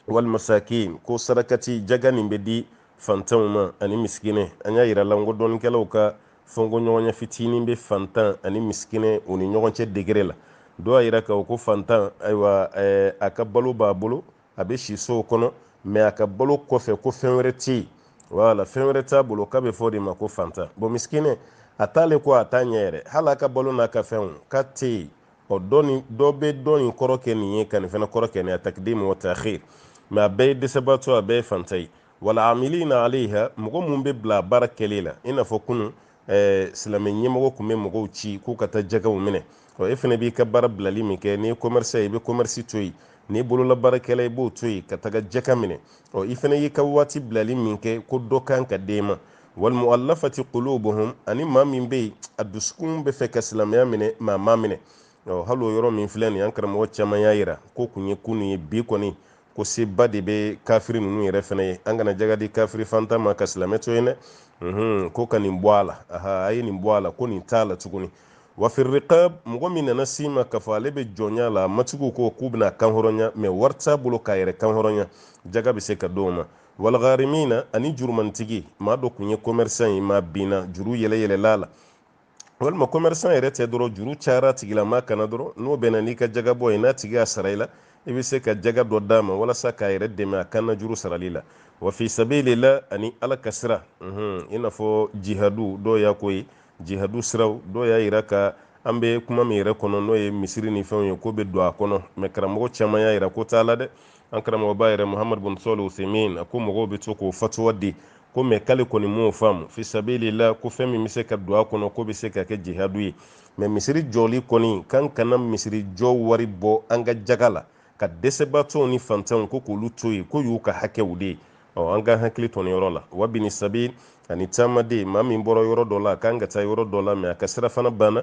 walmasakin ko sarakati jaga nin bɛ di fantanw ma ani misikinɛ an y'a yira la n ko dɔnnikɛlaw ka fɔnkɔɲɔgɔnya fitinin bɛ fantan ani misikinɛ u ni ɲɔgɔn cɛ degere la dɔw y'a yira k'a ko fantan ayiwa eh, a ka balo b'a bolo a bɛ si so kɔnɔ mɛ a ka balo kɔfɛ ko fɛn wɛrɛ tɛ yen wala fɛn wɛrɛ t'a bolo k'a bɛ f'o de ma ko fantan bɔn misikinɛ a t'ale ko a t'a ɲɛ yɛrɛ hali a ka balo n'a ka fɛnw k'a tɛ yen ɔ dɔ ni dɔ bɛ dɔ in kɔrɔ kɛ nin ye ka nin fana kɔrɔ kɛ nin a takidimu wa taxir mɛ a bɛɛ ye dɛsɛbaatɔ a bɛɛ ye fantan ye walamilina alayha mɔgɔ minnu bɛ bila baara kɛli la i n'a fɔ kunun ɛɛ silamɛ ɲɛmɔgɔ tun bɛ mɔgɔw ci k'u ka taa jakaw minɛ ɔ e fana b'i ka baara bilali min kɛ n'i ye kɔmɛrisi i bɛ kɔmɛrisi to yen n'i bololabaarakɛla i b'o to yen ka taga jaka minɛ ɔ i fana y'i ka waati bilali min kɛ ko dɔ kan ka d'e ma walmualafati qulubuhum ani maa min bɛ yen a dusukun bɛ fɛ ka silamɛya minɛ mɛ a m'a minɛ ɔ hali o yɔrɔ min filɛ nin ye an karamɔgɔ caman y'a yira k'o kun ye kunun ye bi kɔni ko seba de bɛ kafiri ninnu yɛrɛ fana ye an kana jaga di kafiri fantan ma ka silamɛ to yen dɛ mhm, ko ka nin bɔ a la a ye nin bɔ a la ko nin t'a la tuguni wafirikabi mɔgɔ min nana si ma k'a fɔ ale bɛ jɔnya la matigiw ko k'u bɛn'a kanhɔrɔnya mɛ wari t'a bolo k'a yɛrɛ kanhɔrɔnya jaga bɛ se ka d'o ma walgarimina ani jurumantigi maa dɔ tun ye kɔmɛrisan ye mɛ a binna juru yɛlɛyɛlɛla a la walima commerçant yɛrɛ tɛ dɔrɔn juru cayara a tigilamaa kanna dɔrɔn n'o bɛnna n'i ka jagabɔ ye n'a tigi y'a sara i la i bɛ se ka jaga dɔ d'a ma walasa k'a yɛrɛ dɛmɛ a kanna juru sarali la wa fi sabili la ani ala ka sira i n'a fɔ jihadu dɔw y'a ko ye jihadu siraw dɔw y'a yira ka an bɛ kuma min yɛrɛ kɔnɔ n'o ye misiri ni fɛnw ye k'o bɛ don a kɔnɔ mɛ karamɔgɔ caman y'a yira k'o t'a la dɛ an karamɔgɔba yɛrɛ muhamadu bun sɔlih usemin a ko mɔgɔw bɛ to k'o fatuwa di ko mɛ k'ale kɔni m'o faamu fisabilila ko fɛn min bɛ se ka don a kɔnɔ k'o bɛ se ka kɛ jihadu ye mɛ misiri jɔli kɔni k'an kana misiri jɔ wari bɔ an ka jaga la ka dɛsɛbaatɔw ni fantanw ko k'olu to yen k'o y'u ka hakɛw de ye ɔ an k'an hakili to nin yɔrɔ la wa bini sabili ani taamaden maa min bɔra yɔrɔ dɔ la a kan ka taa yɔrɔ dɔ la mɛ a ka sirafana banna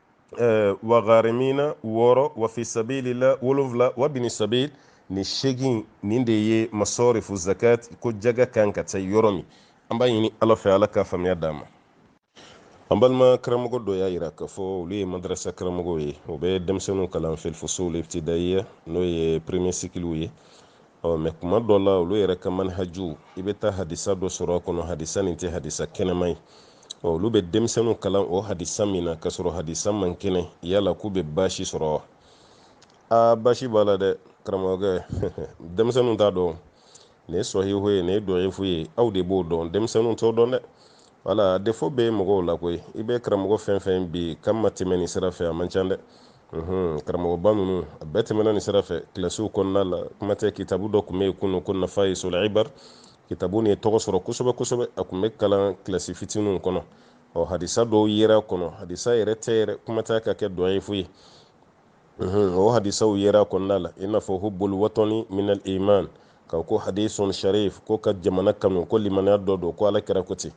eh, wa garimina wɔɔrɔ wa fi sabili la wolonwula wa bini sabili ni segin nin de ye masɔrifu zakat ko jaga kan ka taa yɔrɔ min an b'a ɲini ala fɛ ala ka faamuya d'an ma an balima karamɔgɔ dɔ y'a yira k'a fɔ olu ye madarasa karamɔgɔw ye u bɛ denmisɛnninw kalan fil fusul ibtidaiya n'o ye premier sikiliw ye ɔ mɛ kuma dɔ la olu yɛrɛ ka manhajuw i bɛ taa hadisa dɔ sɔrɔ a kɔnɔ hadisa nin tɛ hadisa kɛnɛman ye ɔ olu bɛ denmisɛnninw kalan o hadisa min na k'a sɔrɔ hadisa man kɛnɛ yala k'u bɛ baasi sɔrɔ wa aa baasi b'a la dɛ karamɔgɔkɛ denmisɛnninw t'a dɔn nin ye sɔhihu ye nin ye dɔyifu ye aw de b'o dɔn denmisɛnninw t'o dɔn dɛ wala défaut bɛ mɔgɔw la koyi i bɛ karamɔgɔ fɛn fɛn bi k'a ma tɛmɛ nin sira fɛ a man ca dɛ karamɔgɔba ninnu a bɛɛ tɛmɛna nin sira fɛ kilasiw kɔnɔna la kuma tɛ kitabu dɔ tun bɛ yen kunun ko nafayisul ibar kitabu nin ye tɔgɔ sɔrɔ kosɛbɛ kosɛbɛ a tun bɛ kalan kilasi fitininw kɔnɔ ɔ hadisa dɔw yera a kɔnɔ hadisa yɛrɛ tɛ yɛrɛ kuma tɛ ka kɛ dɔyifu ye o hadisaw yera a kɔnɔna la i n'a fɔ hubul watɔni minal iman ka ko hadisun sharif ko ka jamana kanu ko limaniya dɔ don ko ala kira ko ten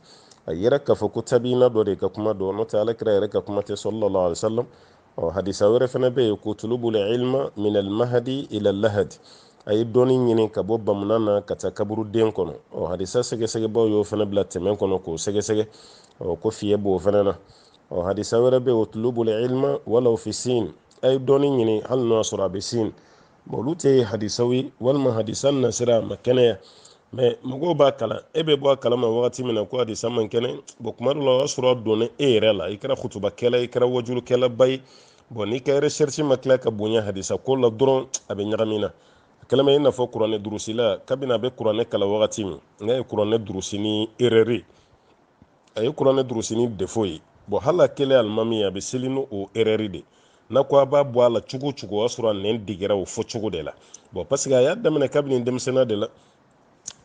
a yera k'a fɔ ko tabiyina dɔ de ka kuma don n'o tɛ ala kira yɛrɛ ka kuma tɛ sallallahu alaihi wasallam ɔ hadisa wɛrɛ fana bɛ yen ko utulubul ilma minal mahadi ila lahadi a ye dɔnni ɲini ka bɔ bamunan na ka taa kaburuden kɔnɔ ɔ hadisa sɛgɛsɛgɛbaw y'o fana bila tɛmɛ kɔnɔ k'o sɛgɛsɛgɛ ɔ ko fiɲɛ b'o fana na ɔ hadisa wɛrɛ bɛ utulubul ilma walaw fi sin a ye dɔnni ɲini hali n'o y'a sɔrɔ a bɛ sin bon olu tɛ hadisaw ye walima hadisa nasira a ma kɛnɛya mɛ mɔgɔw b'a kalan e bɛ bɔ a kalama wagati min na ko hadisa man kɛnɛ bon kuma dɔ la o y'a sɔrɔ a donna e yɛrɛ la i kɛra kutubakɛla i kɛra wajulukɛlaba ye bon n'i ka recherche ma tila ka bonya hadisa ko la dɔrɔn a bɛ ɲagami i la a kɛlen bɛ i n'a fɔ kuranɛ durusila kabini a bɛ kuranɛ kalan wagati min n'a ye kuranɛ durusi ni erreur a ye kuranɛ durusi ni defo ye bɔn hali a kɛlen alimami ye a bɛ seli ni o erɛri de n'a ko a b'a bɔ a la cogo cogo o y'a sɔrɔ a nɛn degera o fɔ cogo de la bɔn paseke a y'a daminɛ kabini denmisɛnninya de la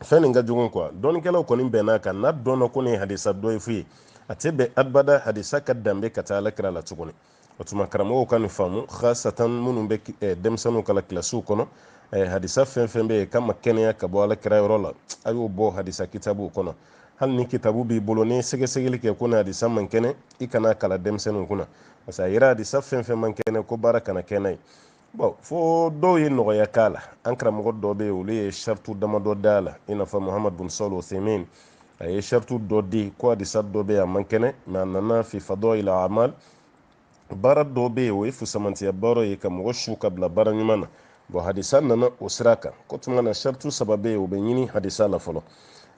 fɛn nin ka jugu kuwa dɔnnikɛlaw kɔni bɛnna a kan n'a dɔnna ko nin hadisa dɔyifu ye a tɛ bɛn abada hadisa ka danbe ka taa ala kira la tuguni o tuma karamɔgɔw ka nin faamu khasatan minnu bɛ eh, denmisɛnninw kalan kilasiw kɔnɔ eh, hadisa fɛn fɛn bɛ yen k'a ma kɛnɛya ka bɔ ala kira yɔrɔ la a y'o bɔ hadisa kitabuw kɔnɔ hali ni kitabu b'i bolo n'i ye sɛgɛsɛgɛli kɛ ko nin hadisa man kɛnɛ i kan'a kalan denmisɛnninw kunna parce que a yera hadisa fɛn fɛn man kɛnɛ ko baara kana kɛ n'a ye bɔn fo dɔw ye nɔgɔya k'a la an karamɔgɔ dɔw bɛ yen olu ye saritu damadɔ da a la i n'a fɔ muhamadu bin salih usayimin a ye saritu dɔ di ko hadisa dɔ bɛ yen a man kɛnɛ mɛ a nana fi fadɔil al amal baara dɔ bɛ yen o ye fusamantiya baara ye ka mɔgɔ su ka bila baara ɲuman na bɔn hadisa nana o sira kan k'o tuma na saritu saba bɛ yen o bɛ ɲini hadisa la fɔlɔ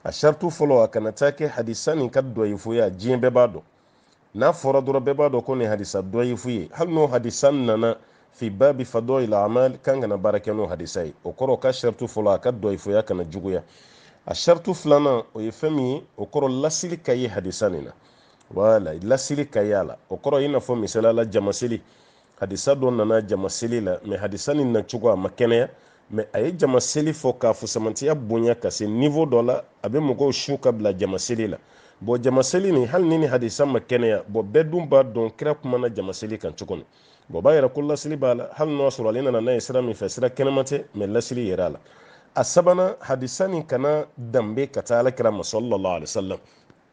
a saritu fɔlɔ a kana taa kɛ hadisa nin ka dɔyifuya diɲɛ bɛɛ b'a dɔn n'a fɔra dɔrɔn bɛɛ b'a dɔn ko nin hadisa dɔyifu ye hali n'o hadisa nana fi babi fadɔil amal kan kana baara kɛ n'o hadisa ye o kɔrɔ o ka shartu fɔlɔ a ka dɔyifuya kana juguya a shartu filanan o ye fɛn min ye o kɔrɔ lasili ka ye hadisa nin na wala lasili ka ye a la o kɔrɔ i n'a fɔ misali la jama seli hadisa dɔ nana jama seli la mɛ hadisa nin na cogo a ma kɛnɛya mɛ a ye jama seli fɔ k'a fusamantiya bonya ka se nivo dɔ la a bɛ mɔgɔw su ka bila jama seli la bɔn jama seli nin hali ni nin hadisa ma kɛnɛya bɔn bɛɛ dun b'a dɔn kira kumana jama seli kan cogo min bɔn b'a yira ko lasili b'a la hali n'o y'a sɔrɔ ale nana n'a ye sira min fɛ sira kɛnɛman tɛ mɛ lasili yera a la a sabanan hadisa nin kana danbe ka taa ala kira ma sallallahu alaihi wasallam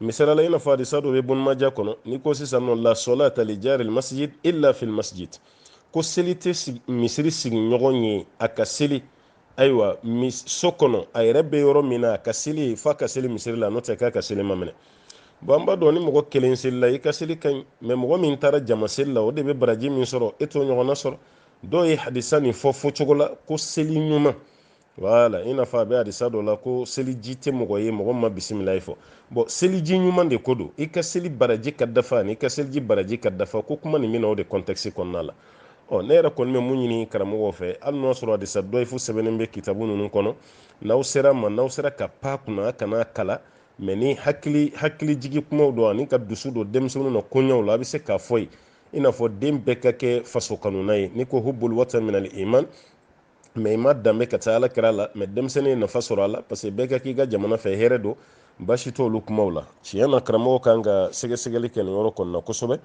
misali la i n'a fɔ hadisa dɔ bɛ bun maja kɔnɔ n'i ko sisan nɔ la sɔlata li jaril masjid illa fil masjid ko seli tɛ misiri sigiɲɔgɔn ye a ka seli ayiwa so kɔnɔ a yɛrɛ bɛ yɔrɔ min na a ka seli ye f'a ka seli misiri la n'o tɛ k'a ka seli ma minɛ bɔn an b'a dɔn ni mɔgɔ kelen selila i ka seli ka ɲi mɛ mɔgɔ min taara jama seli la o de bɛ baraji min sɔrɔ e t'o ɲɔgɔnna sɔrɔ dɔw ye hadisa nin fɔ fɔ cogo la ko seli ɲuman wala i n'a fɔ a bɛ hadisa dɔ la ko seliji tɛ mɔgɔ ye mɔgɔ ma bisimilahi fɔ bɔn seliji ɲuman de ko don i ka seli baraji ka dafa ani i ka seliji baraji ka dafa ko kuma nin bɛ na o de kɔntɛkisi kɔnɔna la ɔ ne yɛrɛ kɔni bɛ mun ɲini karamɔgɔw fɛ hali n'o y'a sɔrɔ hadisa dɔyifu sɛbɛnnen bɛ kitabu ninnu kɔnɔ n'aw sera a ma n'aw sera ka pan a kunna kan'a kalan mɛ ni hakili hakili jigi kumaw don ani ka dusu don denmisɛnninw na koɲɛw la a bɛ se k'a fɔ u ye i n'a fɔ den bɛɛ ka kɛ faso kanuna ye n'i ko hubul watan minal iman mɛ i ma danbe ka taa ala kira la mɛ denmisɛnnin ye nafa sɔrɔ a la parce que bɛɛ ka k'i ka jamana fɛ hɛrɛ don basi t'olu kumaw la tiɲɛ na karamɔgɔ kan ka sɛgɛsɛgɛli kɛ nin yɔrɔ kɔnɔna kosɛbɛ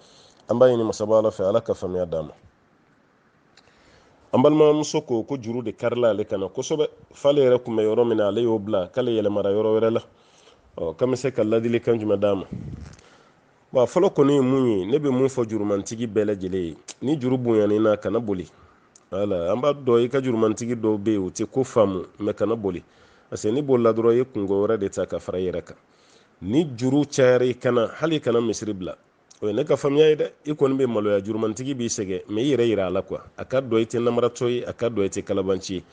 an b'a ɲini masaba ala fɛ ala ka faamuya d'an ma an balimamuso ko ko juru de karila ale kan na kosɛbɛ f'ale yɛrɛ kun bɛ yɔrɔ min na ale y'o bila k'ale yɛlɛmara yɔrɔ wɛrɛ la ɔ k'an bɛ se ka ladilikan jumɛn d'a ma wa fɔlɔ kɔni ye mun ye ne bɛ mun fɔ jurumantigi bɛɛ lajɛlen ye ni juru bonyan'i na kana boli wala an b'a dɔn i ka jurumantigi dɔw bɛ yen u tɛ ko faamu mɛ kana boli parce que n'i bolila dɔrɔn i ye kunko wɛrɛ de ta ka fara i yɛrɛ kan ni juru cayara i kan na hali kana misiri bila o ye ne ka faamuya ye dɛ i kɔni bɛ maloya jurumantigi b'i sɛgɛn mɛ i yɛrɛ yira a la quoi a k'a dɔn i tɛ namaratɔ ye a k'a dɔn i tɛ kalabanci ye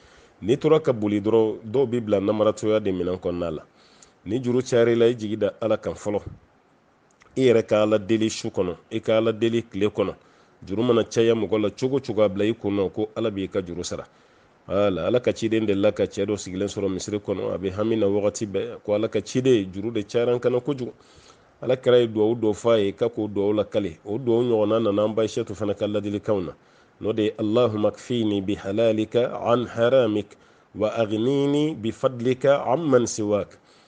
n'i tora ka boli dɔrɔn dɔw b'i bila namaratɔya de minɛn kɔnɔna la ni juru cayara i la i jigi da ala kan fɔlɔ i yɛrɛ ka ala deli su kɔnɔ i ka ala deli tile kɔnɔ juru mana caya mɔgɔ la cogo cogo a bila i kun na ko ala b'i ka juru sara ala ala ka ciden delila ka cɛ dɔ sigilen sɔrɔ misiri kɔnɔ a bɛ hami na wagati bɛɛ ko ala ka ciden juru de cayara n kan na kojugu ala kira ye duwawu dɔ fɔ a ye k'a k'o duwawu lakali o duwawu ɲɔgɔnna nana an ba ayisɛtu fana ka ladilikanw na n'o de ye allahuma kfini bihalalika an haramik wa agnini bifadlika amman siwak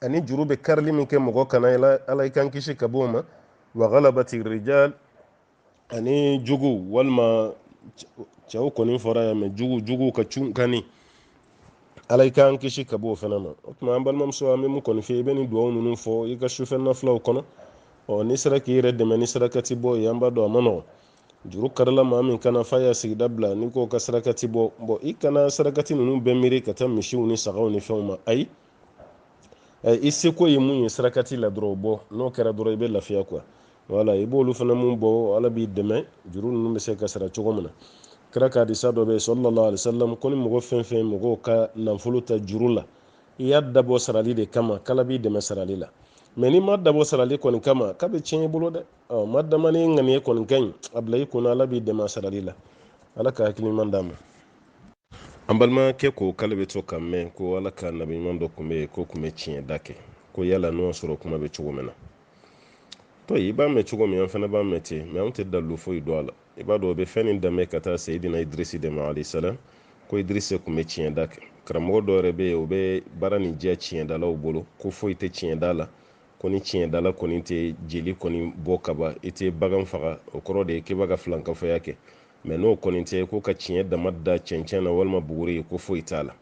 ani juru bɛ karili min kɛ mɔgɔ kan na ala i k'an kisi ka bɔ o ma wa galabati rijal ani jugu walima cɛw kɔni fɔra yan mɛ jugu jugu ka cunkanni ala i k'an kisi ka bɔ o fana ma o tuma an balimamuso an bɛ mun kɔni fɛ i bɛ nin dugawu ninnu fɔ i ka sufɛ nafilaw kɔnɔ ɔ n'i sera k'i yɛrɛ dɛmɛ ni sarakati bɔ ye an b'a dɔn a ma nɔgɔn juru karila maa min kan na f'a y'a sigida bila n'i k'o ka sarakati bɔ bɔn i kana sarakati ninnu bɛɛ miiri ka taa misiw ni sagaw ni fɛnw ma ayi eh, i seko ye mun ye sarakati la dɔrɔn o bɔ n'o kɛra dɔrɔn i bɛ lafiya quoi wala i b'olu fana mun bɔ ala b'i dɛmɛ juru ninnu bɛ se ka sara cogo min na kira ka hadisa dɔ bɛ yen sallallahu alaihi wasallam ko ni mɔgɔ fɛn fɛn mɔgɔw ka nafolo ta juru la i y'a dabɔ sarali de kama k'ala b'i dɛmɛ sarali la mɛ n'i m'a dabɔ sarali kɔni kama k'a bɛ tiɲɛ i bolo dɛ ɔ madame n'i ŋaniya kɔni ka ɲi a bila i kun na ala b'i dɛmɛ sarali la ala ka hakili ɲuman d'an ma an balimakɛ ko k'ale bɛ to k'a mɛn ko ala ka nabi ɲuman dɔ tun bɛ yen k'o tun bɛ tiɲɛda kɛ ko yala n'o sɔrɔ kuma bɛ cogo min na to i b'a mɛn cogo min an fana b'a mɛn ten mɛ an tɛ dalu foyi dɔn a la i b'a dɔn o bɛ fɛn nin danbe ka taa sayidina idirisi de ma alayhi salam ko idirisi tun bɛ tiɲɛda kɛ karamɔgɔ dɔ yɛrɛ bɛ yen o bɛ baara nin jɛ tiɲɛdalaw bolo ko foyi tɛ tiɲɛda la ko ni tiɲɛdala kɔni tɛ jeli kɔni bɔ kaba i tɛ bagan faga o kɔrɔ de ye k'i b'a ka filankafoya kɛ mɛ n'o kɔni tɛ ko ka tiɲɛ dama da cɛncɛn na walima buguri ye ko foyi t'a la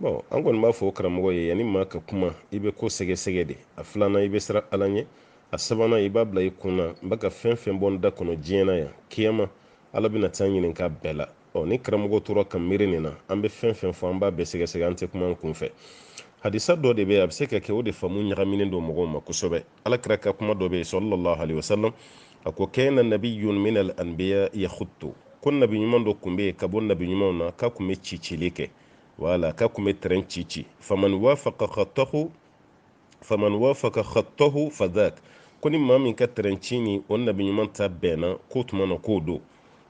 bɔn an kɔni b'a fɔ karamɔgɔ ye yanni maa ka kuma i bɛ ko sɛgɛsɛgɛ de a filanan i bɛ siran ala ɲɛ a sabanan i b'a bila i kun na n bɛ ka fɛn fɛn bɔ n da kɔnɔ diɲɛ na yan kiyama ala bɛna taa n ɲininka a bɛɛ la ɔ ni karamɔgɔ tora ka miiri nin na an bɛ fɛn fɛn fɔ an b'a bɛɛ sɛgɛsɛgɛ an tɛ kuma an kun fɛ hadisa dɔ de bɛ a bɛ se ka kɛ o de faamu ɲagaminen don mɔgɔw ma kosɛbɛ ala kira ka kuma dɔ bɛ yen sallallahu alaihi wasallam a ko kana nabiyun min al anbiya yakhuttu ko nabi ɲuman dɔ kun bɛ yen ka bɔ nabi ɲumanw na k'a kun bɛ cicili kɛ wala k'a kun bɛ tɛrɛn ci ci faman wafaqa khattahu fadhak ko ni maa min ka tɛrɛn ci ni o nabi ɲuman ta bɛnna k'o tuma na k'o don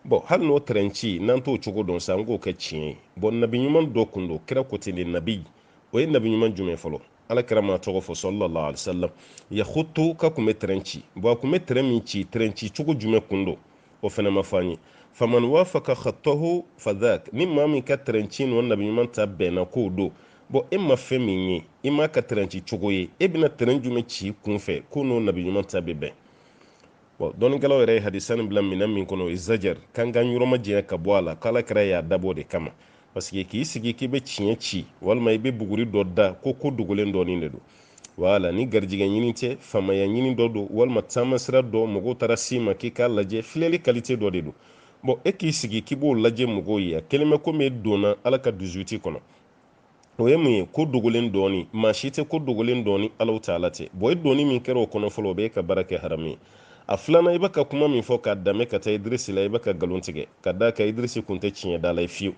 bɔn hali n'o tɛrɛn ci n'an t'o cogo dɔn sanko k'a ci bɔn nabi ɲuman dɔ kun don kira ko ten de nabi o ye nabi ɲuman jumɛn fɔ ala kira m'a tɔgɔ fɔ sallallahu alaihi wasallam yakhutu k'a kun bɛ tɛrɛn ci bɔn a kun bɛ tɛrɛn min ci tɛrɛn ci cogo jumɛn kun don o fana ma fɔ an ye faman wafaka khattahu fadhak ni maa min ka tɛrɛn ci n'o nabi ɲuman ta bɛnna k'o don bɔn e ma fɛn min ye i m'a ka tɛrɛn ci cogo ye e bɛna tɛrɛn jumɛn ci kun fɛ k'o n'o nabi ɲuman ta bɛ bɛn bɔn dɔnnikɛlaw yɛrɛ ye hadisa nin bila minɛn min kɔnɔ o ye zajar k'an k'an yɔrɔ majanya ka bɔ a la k'ala kira y'a dabɔ de kama pasike k'i sigi k'i bɛ tiɲɛ ci walima i bɛ buguri dɔ da ko ko dogolen dɔnni de don wala ni garijigɛ ɲini tɛ faamaya ɲini dɔ don walima taamasira don mɔgɔw taara s'i ma k'i k'a lajɛ filɛli kalite dɔ de don bɔn e k'i sigi k'i b'o lajɛ mɔgɔw ye a kɛlen bɛ komi e donna ala ka dix-huit kɔnɔ o ye mun ye ko dogolen dɔnni maa si tɛ ko dogolen dɔn ni ala taala tɛ bɔn i donni min kɛra o kɔnɔ fɔlɔ o b'i ka baara kɛ haramu ye a filanan i bɛ ka kuma min fɔ k'a danbe ka taa idirisi la i bɛ ka nkalon tigɛ ka d'a kan idirisi kun tɛ tiɲɛdala ye fiyewu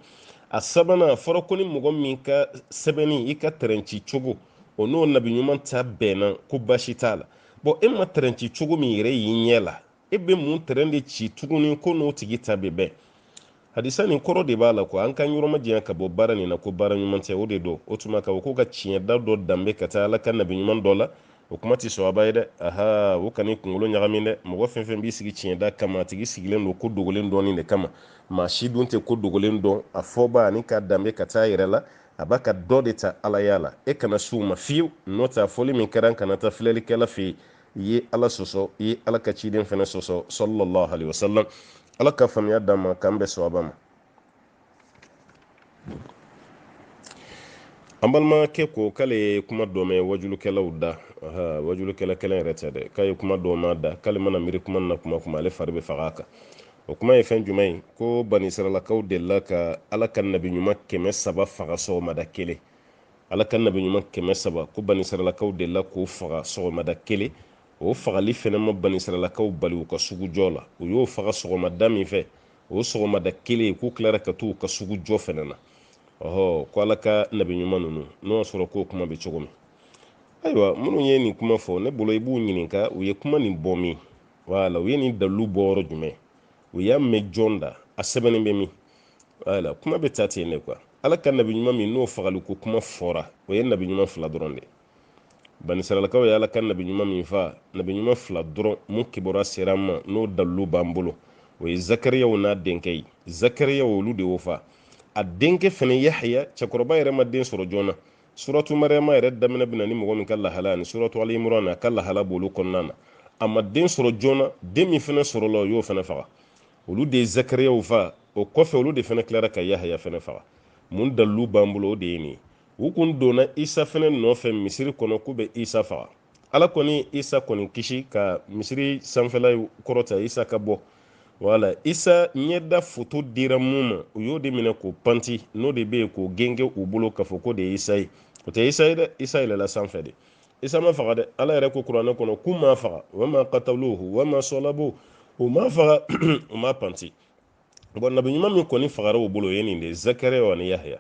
a sabanan a fɔra ko ni mɔgɔ min ka sɛbɛnni i ka tɛrɛnci cogo o n'o nabi ɲuman ta bɛnna ko baasi t'a la bɔn e ma tɛrɛnci cogo min yɛrɛ y'i ɲɛ la e bɛ mun tɛrɛn de ci tuguni k'o n'o tigi ta bɛ bɛn hadisa nin kɔrɔ de b'a la ko an ka yɔrɔ majanya ka bɔ baara nin na ko baara ɲuman tɛ o de don o tuma ka ko ka tiɲɛ da dɔ danbe ka taa ala ka nabi ɲuman dɔ la o kuma tɛ sɔaba ye dɛ aha o kana kunkolo ɲagami dɛ mɔgɔ fɛn fɛn b'i sigi tiɲɛ da kama a tigi sigilen don ko dogolen dɔnni de kama maa si dun tɛ ko dogolen dɔn a fɔba ani k'a danbe ka taa yɛrɛ la a b'a ka dɔ de ta alaya la e kana s'u ma fiyewu n'o tɛ a fɔli min kɛra kana taa filɛlikɛla fɛ yen i ye ala sɔsɔ i ye ala ka ciden fana sɔsɔ sallallahu alaihi wasallam ala ka faamuya d'an ma k'an bɛn sɔaba ma an balimakɛ ko k'ale ye kuma dɔ mɛn wajulukɛlaw da wajulukɛla kelen yɛrɛ tɛ dɛ k'a ye kuma dɔ mɛn u da k'ale mana miiri kuma na kuma kuma ale fari bɛ faga a kan o kuma ye fɛn jumɛn ye ko banisiralakaw delila ka ala ka nabi ɲuman kɛmɛ saba faga sɔgɔmada kelen ala ka nabi ɲuman kɛmɛ saba ko banisiralakaw delila k'o faga sɔgɔmada kelen o fagali fɛnɛ ma banisiralakaw bali u ka sugujɔ la u y'o faga sɔgɔmada min fɛ o sɔgɔmada kelen k'u tilara ka t'u ka sugujɔ fɛnɛ na ɔhɔ ko ala ka nabi ɲuman ninnu n'o y'a sɔrɔ k'o kuma bɛ cogo min ayiwa minnu ye nin kuma fɔ ne bolo i b'u ɲininka u ye kuma nin bɔ min wala u ye nin dalilu bɔ yɔrɔ jumɛn u y'a mɛn jɔn da a sɛbɛnnen bɛ min wala kuma bɛ ta ten de ko ala ka nabi ɲuman min n'o fagali ko kuma fɔra o ye nabi ɲuman fila dɔrɔn de ye banisiralakaw ye ala ka nabi ɲuman min fa nabi ɲuman fila dɔrɔn mun kibaru sera an ma n'o dalilu b'an bolo o ye zakariyaw n'a denkɛ ye zakariyaw olu de y'o fa a denkɛ fana yahaya cɛkɔrɔba yɛrɛ ma den sɔrɔ joona suratu mariyama yɛrɛ daminɛ bɛ na ni mɔgɔ min ka lahala ani suratu ali imuran a ka lahala b'olu kɔnɔna na a ma den sɔrɔ joona den min fana sɔrɔla o y'o fana faga olu de ye zakariyaw faga o kɔfɛ olu de fana tilara ka yahaya fana faga mun dalilu b'an bolo o de ye nin ye u kun donna isa fana nɔfɛ misiri kɔnɔ k'u bɛ isa faga ala kɔni isa kɔni kisi ka misiri sanfɛla kɔrɔta isa ka bɔ wala isa ɲɛda foto dira mun ma u y'o de minɛ k'o panti n'o de bɛ yen k'o genge u bolo k'a fɔ k'o de ye isa ye o tɛ isa ye dɛ isa yɛlɛla sanfɛ de isa ma faga dɛ ala yɛrɛ ko kuranɛ kɔnɔ k'u m'a faga wama kataluhu wama sɔlabu u m'a faga u m'a panti bɔn nabi ɲuman min kɔni fagara u bolo o ye nin de ye zakariyaw ani yahya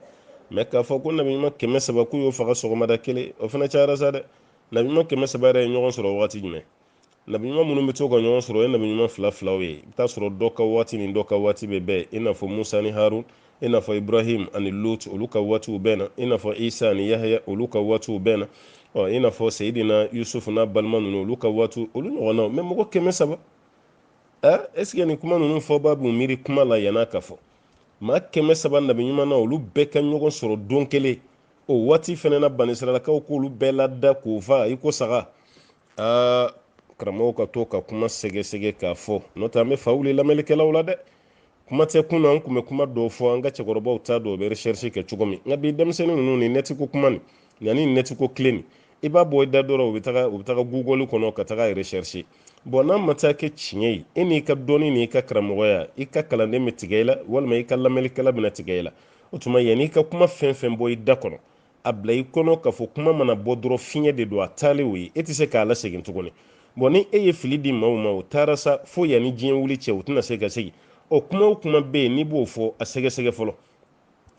mɛ k'a fɔ ko nabi ɲuman kɛmɛ saba k'u y'o faga sɔgɔmada kelen o fana cayara sa dɛ nabi ɲuman kɛmɛ saba yɛrɛ ye ɲɔgɔn sɔrɔ wagati jumɛn nabi ɲuman minnu bɛ to ka ɲɔgɔn sɔrɔ o ye nabi ɲuman fila filaw ye i bɛ t'a sɔrɔ dɔ ka waati ni dɔ ka waati bɛ bɛn i n'a fɔ musa ni harun i n'a fɔ ibrahim ani lut olu ka waatiw bɛnna i n'a fɔ isa ani yahya olu ka waatiw bɛnna ɔ i n'a fɔ seyidina yusufu n'a balima ninnu olu ka waatiw olu ɲɔgɔnnaw mɛ mɔgɔ kɛmɛ saba aa ɛsike nin kuma ninnu fɔba b'u miiri kuma la yann'a k'a fɔ maa kɛmɛ saba nabi ɲuman na olu bɛɛ ka ɲɔgɔn sɔrɔ don kelen o waati fɛnɛ na banisiralakaw k'olu bɛɛ lada k'o fa i ko saga aa karamɔgɔw ka to ka kuma sɛgɛsɛgɛ k'a fɔ n'o tɛ an bɛ fa wuli lamɛnlikɛlaw la dɛ kuma tɛ kunun an tun bɛ kuma dɔw fɔ an ka cɛkɔrɔbaw t'a dɔn o bɛ recherche kɛ cogo min nka bi denmisɛnnin ninnu ni nɛti ko kuma nin ani nɛti ko tile nin i b'a bɔ i da dɔrɔn u bɛ taga u bɛ taga google kɔnɔ ka taga recherche bɔn n'a ma taa kɛ tiɲɛ ye e n'i ka dɔnni n'i ka karamɔgɔya i ka kalanden bɛ tigɛ i la walima i ka lamɛnlikɛla bɛna tigɛ i la o tuma yanni i ka kuma fɛn fɛn bɔ i da kɔnɔ a bila i kɔnɔ k'a fɔ kuma mana bɔ dɔrɔn fiɲɛ de don a taalen o ye e tɛ se k'a lasegin tuguni bɔn ni e ye fili di maaw ma o taara sa fo yanni diɲɛ wuli cɛ u tɛna se ka segin ɔ kuma o kuma bɛ yen n'i b'o fɔ a sɛgɛsɛgɛ fɔlɔ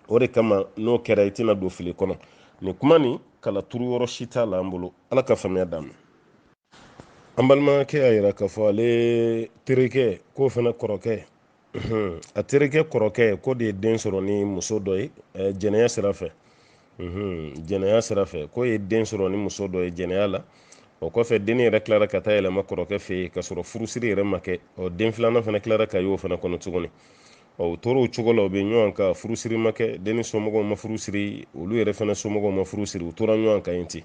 o de kama n'o kɛra i tɛna don fili kɔnɔ nin kuma nin kala turu yɔrɔ si t'a la an bolo ala ka faamuya d'an ma an balimakɛ y'a yira k'a fɔ ale terikɛ k'o fana kɔrɔkɛ a terikɛ kɔrɔkɛ k'o de ye den sɔrɔ ni muso dɔ ye jɛnɛya sira fɛ jɛnɛya sira fɛ k'o ye den sɔrɔ ni muso dɔ ye jɛnɛya la o kɔfɛ denni yɛrɛ tilara ka taa yɛlɛma kɔrɔkɛ fɛ yen ka sɔrɔ furusiri yɛrɛ ma kɛ ɔ den filanan fana tilara ka y'o fana kɔnɔ tuguni ɔ u tor'o cogo la u bɛ ɲɔgɔn kan furusiri ma kɛ denni somɔgɔw ma furusiri olu yɛrɛ fana somɔgɔw ma furusiri u tora ɲɔgɔn kan yen ten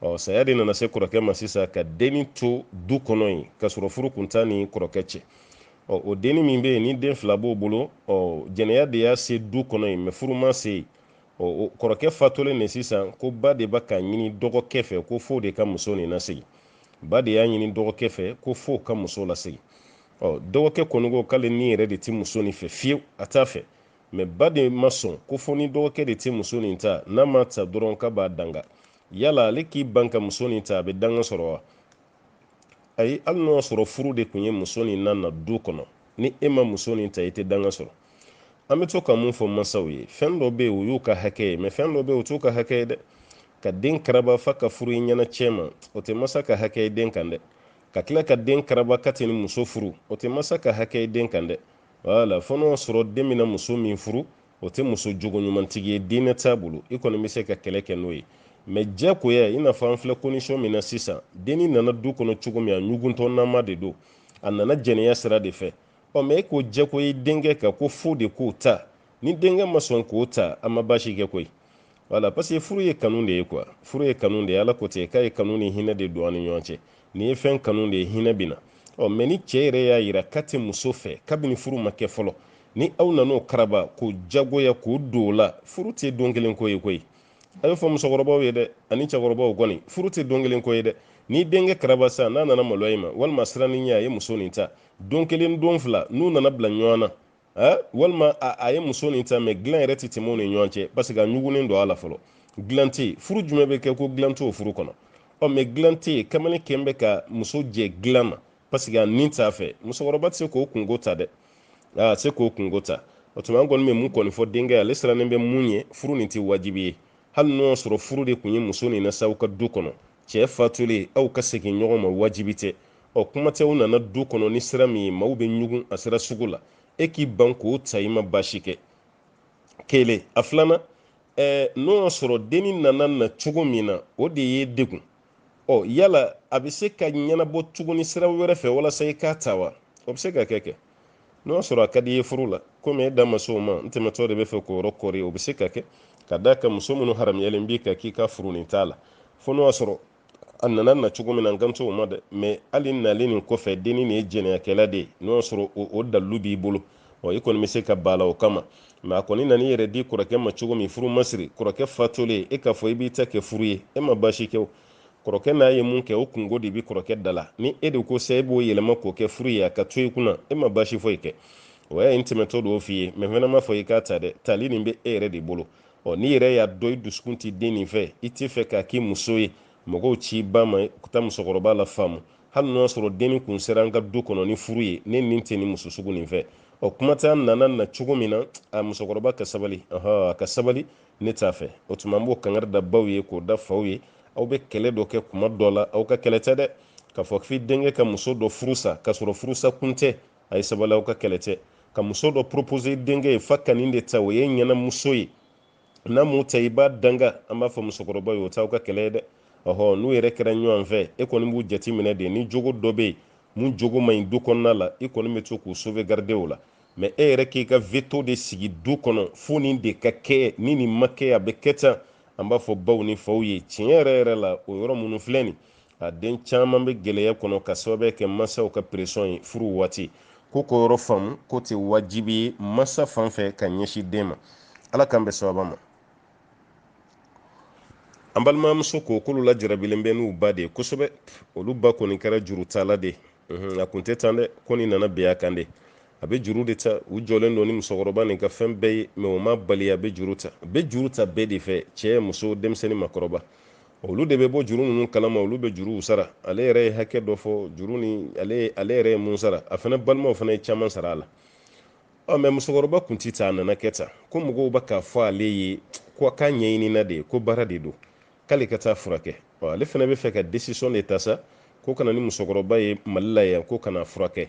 ɔ saya de nana se kɔrɔkɛ ma sisan ka denni to du kɔnɔ yen ka sɔrɔ furu kun t'a ni kɔrɔkɛ cɛ ɔ o denni min bɛ yen ni den fila b'o bolo ɔ jɛnɛya de y'a se du kɔnɔ yen mɛ furu m'a se yen ɔ kɔrɔkɛ fatolen de sisan ko ba de bɛ k'a ɲini dɔgɔkɛ fɛ ko f'o de ka muso nin lasegin ba de y'a ɲini dɔgɔkɛ fɛ ko f'o ka muso lasegin ɔ dɔgɔkɛ kɔni ko k'ale ni yɛrɛ de tɛ muso nin fɛ fiyewu a t'a fɛ mɛ ba de ma sɔn ko fo ni dɔgɔkɛ de tɛ muso nin ta n'a m'a ta dɔrɔn k'a b'a danga yala ale k'i ban ka muso nin ta a bɛ danga sɔrɔ wa ayi hali n'o y'a sɔrɔ furu de tun ye muso nin na na du kɔnɔ ni e ma muso nin ta i tɛ danga sɔrɔ an bɛ to ka mun fɔ mansaw ye fɛn dɔ bɛ yen o y'u ka hakɛ ye mɛ fɛn dɔ bɛ yen o t'u ka hakɛ ye dɛ ka den karaba f'a ka furu i ɲɛna cɛ ma o tɛ masa ka hakɛ ye den kan dɛ ka tila ka den karaba k'a tɛ nin muso furu o tɛ masa ka hakɛ ye den kan dɛ voilà fo n'o y'a sɔrɔ den bɛna muso min furu o tɛ muso jogo ɲumantigi ye diinɛ t'a bolo i kɔni bɛ se ka kɛlɛ kɛ n'o ye mɛ jagoya i n'a fɔ an filɛ condition min na sisan denni nana du kɔnɔ cogo min a ɲuguntɔnama de don a nana jɛnɛya sira de fɛ ɔ mɛ e k'o jagoya denkɛ kan ko f'o de k'o ta ni denkɛ ma sɔn k'o ta a ma baasi kɛ koyi voilà parce que furu ye kanu de ye quoi furu ye kanu de ye ala ko ten k'a ye kanu ni hinɛ de don an ni ɲɔgɔn cɛ n'i ye fɛn kanu de hinɛ bɛ na ɔ mɛ ni cɛ yɛrɛ y'a yira k'a tɛ muso fɛ kabini furu ma kɛ fɔlɔ ni aw nan'o karaba k'o jagoya k'o don o la furu tɛ don kelen ko ye koyi a y'a fɔ musokɔrɔbaw ye dɛ ani cɛkɔrɔbaw kɔni furu tɛ don kelen ko ye dɛ n'i ye denkɛ karaba sa n'a nana maloya i ma walima a siranna i ɲɛ a ye muso nin ta don kelen don fila n'u nana bila ɲɔgɔn na walima a ye muso nin ta mɛ dilan yɛrɛ tɛ tɛmɛ u ni ɲɔgɔn cɛ parce que a ɲugunnen don a la fɔlɔ dilan tɛ yen furu jumɛn bɛ kɛ ko dilan t'o furu kɔnɔ ɔ mɛ dilan tɛ yen kamalen kɛlen bɛ ka muso jɛ dilan na parce que a nin t'a fɛ musokɔrɔba tɛ se k'o kunko ta dɛ a tɛ se k'o kunko ta o tuma an kɔni bɛ mun kɔni fɔ denkɛ ye ale sirannen bɛ mun ɲɛ furu nin tɛ wajibi ye hali n'o y'a sɔrɔ furu de tun ye muso nin na sa u ka du kɔnɔ cɛ fatulen aw ka segin ɲɔgɔn ma wajibi tɛ ɔ kuma tɛ u nana du kɔnɔ ni sira min ye maw bɛ ɲugun a sira sugu la e k'i ban k'o ta i ma baasi kɛ kelen a filanan ɛɛ n'o y'a sɔrɔ denni nana na cogo min na o de y'i degun ɔ yala a bɛ se ka ɲɛnabɔ tuguni sira wɛrɛ fɛ walasa i k'a ta wa o bɛ se ka kɛ kɛ n'o y'a sɔrɔ a ka di i ye furu la komi e da ma s'o ma n tɛmɛtɔ de bɛ fɛ k'o yɔrɔ kɔri o bɛ se ka kɛ ka d'a kan muso minnu haramuyalen b'i kan k'i ka furu nin t'a la fo n'o y'a sɔrɔ a nana na cogo min na n kan t'o ma dɛ mɛ hali nalen nin kɔfɛ denni nin ye jɛnɛyakɛla de ye n'o y'a sɔrɔ o dalilu b'i bolo ɔ i kɔni bɛ se ka bala o kama mɛ a kɔni nana i yɛrɛ di kɔrɔkɛ ma cogo min furu masiri kɔrɔkɛ fatulen e k'a fɔ i b'i ta kɛ furu ye e ma baasi kɛ o kɔrɔkɛ n'a ye mun kɛ o kunko de bɛ kɔrɔkɛ da la ni e de ko sa e b'o yɛlɛma k'o kɛ furu ye a ka to i kunna e ma baasi foyi kɛ o y'a ye n tɛmɛtɔ don o f'i ye mɛ fana ma fɔ i k'a ta dɛ tali nin bɛ e yɛrɛ de bolo ɔ n'i yɛrɛ y'a dɔn i dusukun ti denni fɛ i tɛ fɛ k'a k'i muso ye mɔgɔw ci ba ma ka taa musokɔrɔba lafaamu hali n'o y'a sɔrɔ denni kun sera an ka du kɔnɔ ni furu ye ne nin tɛ nin muso sugu nin fɛ ɔ kuma tɛ an nana na cogo min na a musokɔrɔba ka sabali a ka sabali ne t'a fɛ o tuma n b'o kangari da baw ye k'o da faw ye aw bɛ kɛlɛ dɔ kɛ kuma dɔ la aw ka kɛlɛ tɛ dɛ k'a fɔ k'i denkɛ ka muso dɔ furusa k'a sɔrɔ furusa kun tɛ a ye sabali aw ka kɛlɛ tɛ ka muso dɔ propose denkɛ ye f'a ka nin de ta o ye ɲɛna muso ye n'a m'o ta i b'a danga an b'a fɔ musokɔrɔba ye o t'aw ka kɛlɛ ye dɛ ɔhɔ n'u yɛrɛ kɛra ɲɔgɔn fɛ e kɔni b'u jateminɛ de ni jogo dɔ bɛ yen mun jogo man ɲi du kɔnɔna la i kɔni bɛ to k'u sauvegarder o la mɛ e yɛrɛ k'i ka veto de sigi du kɔnɔ fo nin de ka kɛ ni nin ma kɛ a bɛ kɛ tan an b'a fɔ baw ni faw ye tiɲɛ yɛrɛ yɛrɛ la o yɔrɔ minnu filɛ nin a den caman bɛ gɛlɛya kɔnɔ ka sababu kɛ mansaw ka presɔn ye furu waati ko k'o yɔrɔ faamu k'o tɛ wajibi ye mansa fan fɛ ka ɲɛsin den ma ala k'an bɛn sawaba ma an balimamuso ko k'olu lajarabilen bɛ n'u ba de ye kosɛbɛ olu ba kɔni kɛra jurutala de ye a kun tɛ tan dɛ ko nin nana bin a kan de a bɛ juru de ta u jɔlen don ni musokɔrɔba nin ka fɛn bɛɛ ye mɛ o ma bali a bɛ juru ta a bɛ juru ta bɛɛ de fɛ cɛ muso denmisɛnnin makɔrɔba olu de bɛ bɔ juru ninnu kalama olu bɛ juruw sara ale yɛrɛ ye hakɛ dɔ fɔ juru ni ale yɛrɛ ye mun sara a fana balimaw fana ye caman sara a la ɔ mɛ musokɔrɔba kun ti tan a nana kɛ tan ko mɔgɔw bɛ k'a fɔ ale ye ko a k'a ɲɛɲinina de ye ko baara de don k'ale ka taa furakɛ ale fana bɛ fɛ ka desisɔn de ta sa ko ka na ni musokɔrɔba ye mali la yan ko ka n'a furakɛ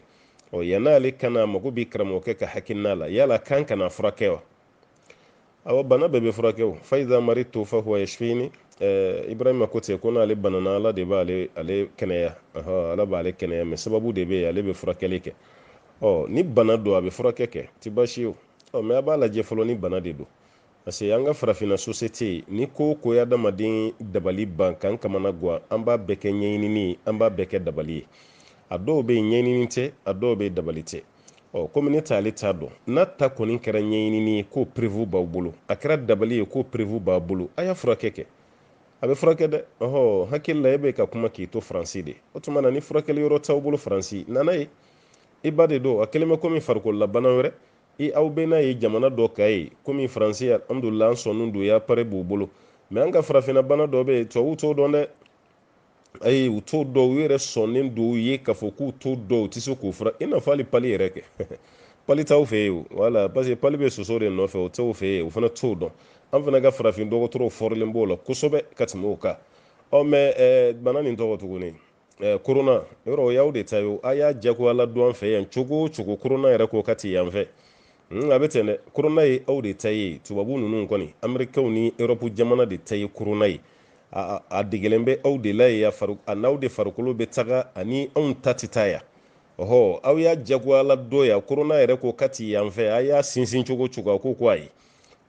ɔ yan n'ale kana mago bɛ karamɔgɔkɛ ka hakilina la yala kan ka n'a furakɛ wa awa bana bɛɛ bɛ furakɛ o fa iza maridtu fa huwa yashfini eh, ibrahima ko ten ko n'ale banana ala de b'ale ale kɛnɛya ala b'ale kɛnɛya mɛ sababu de bɛ yen ale bɛ furakɛli kɛ ɔ ni bana don a bɛ furakɛ kɛ ti baasi ye o ɔ mɛ a b'a lajɛ fɔlɔ ni bana de don parce que an ka farafinna sosete nin ko o ko ye adamaden dabali ban k'an kamanagwan an b'a bɛɛ kɛ ɲɛɲinini ye an b'a bɛɛ kɛ dabali ye a dɔw bɛ yen ɲɛɲinini tɛ a dɔw bɛ dabali tɛ ɔ komi ne t'ale t'a dɔn n'a ta kɔni kɛra ɲɛɲinini ye k'o perevu b'aw bolo a kɛra dabali ye k'o perevu b'a bolo a y'a furakɛ kɛ a bɛ furakɛ dɛ ɔhɔ n hakili la e bɛ ka kuma k'i to faransi de o tuma na ni furakɛli yɔrɔ t'aw bolo faransi na n'a ye i ba de don a kɛlen bɛ komi farikololabana wɛrɛ e aw bɛ n'a ye jamana dɔ ka ye komi faransi alhamdulila an sɔnnen don u ye appareil b'u bolo mɛ an ka farafinna bana dɔ bɛ yen tubabuw t'o dɔn dɛ ayi u t'o dɔn u yɛrɛ sɔnnen don u ye k'a fɔ k'u t'o dɔn u tɛ se k'o fura i n'a fɔ hali pali yɛrɛ kɛ pali t'aw fɛ yen o wala parce que pali bɛ soso de nɔfɛ o t'aw fɛ yen u fana t'o dɔn an fana ka farafin dɔgɔtɔrɔw fɔrilen b'o la kosɛbɛ ka tɛmɛ u kan ɔ mɛ bana nin tɔgɔ tuguni eh, korona yɛrɛ o y'aw de ta ye o a y'a jagoya ladon an fɛ yan cogo o cogo korona yɛrɛ ko k'a tɛ yan fɛ Hmm, a bɛ ten dɛ korona ye aw de ta ye tubabu ninnu kɔni amerikɛnw ni erɔpu jamana de ta ye korona ye a degelen bɛ aw de la yen a n'aw de farikolo bɛ taga a ni anw ta tɛ taa yan ɔhɔ aw y'a jagoya ladon yan korona yɛrɛ ko k'a tɛ yan fɛ a y'a sinsin cogo o cogo a ko ko ayi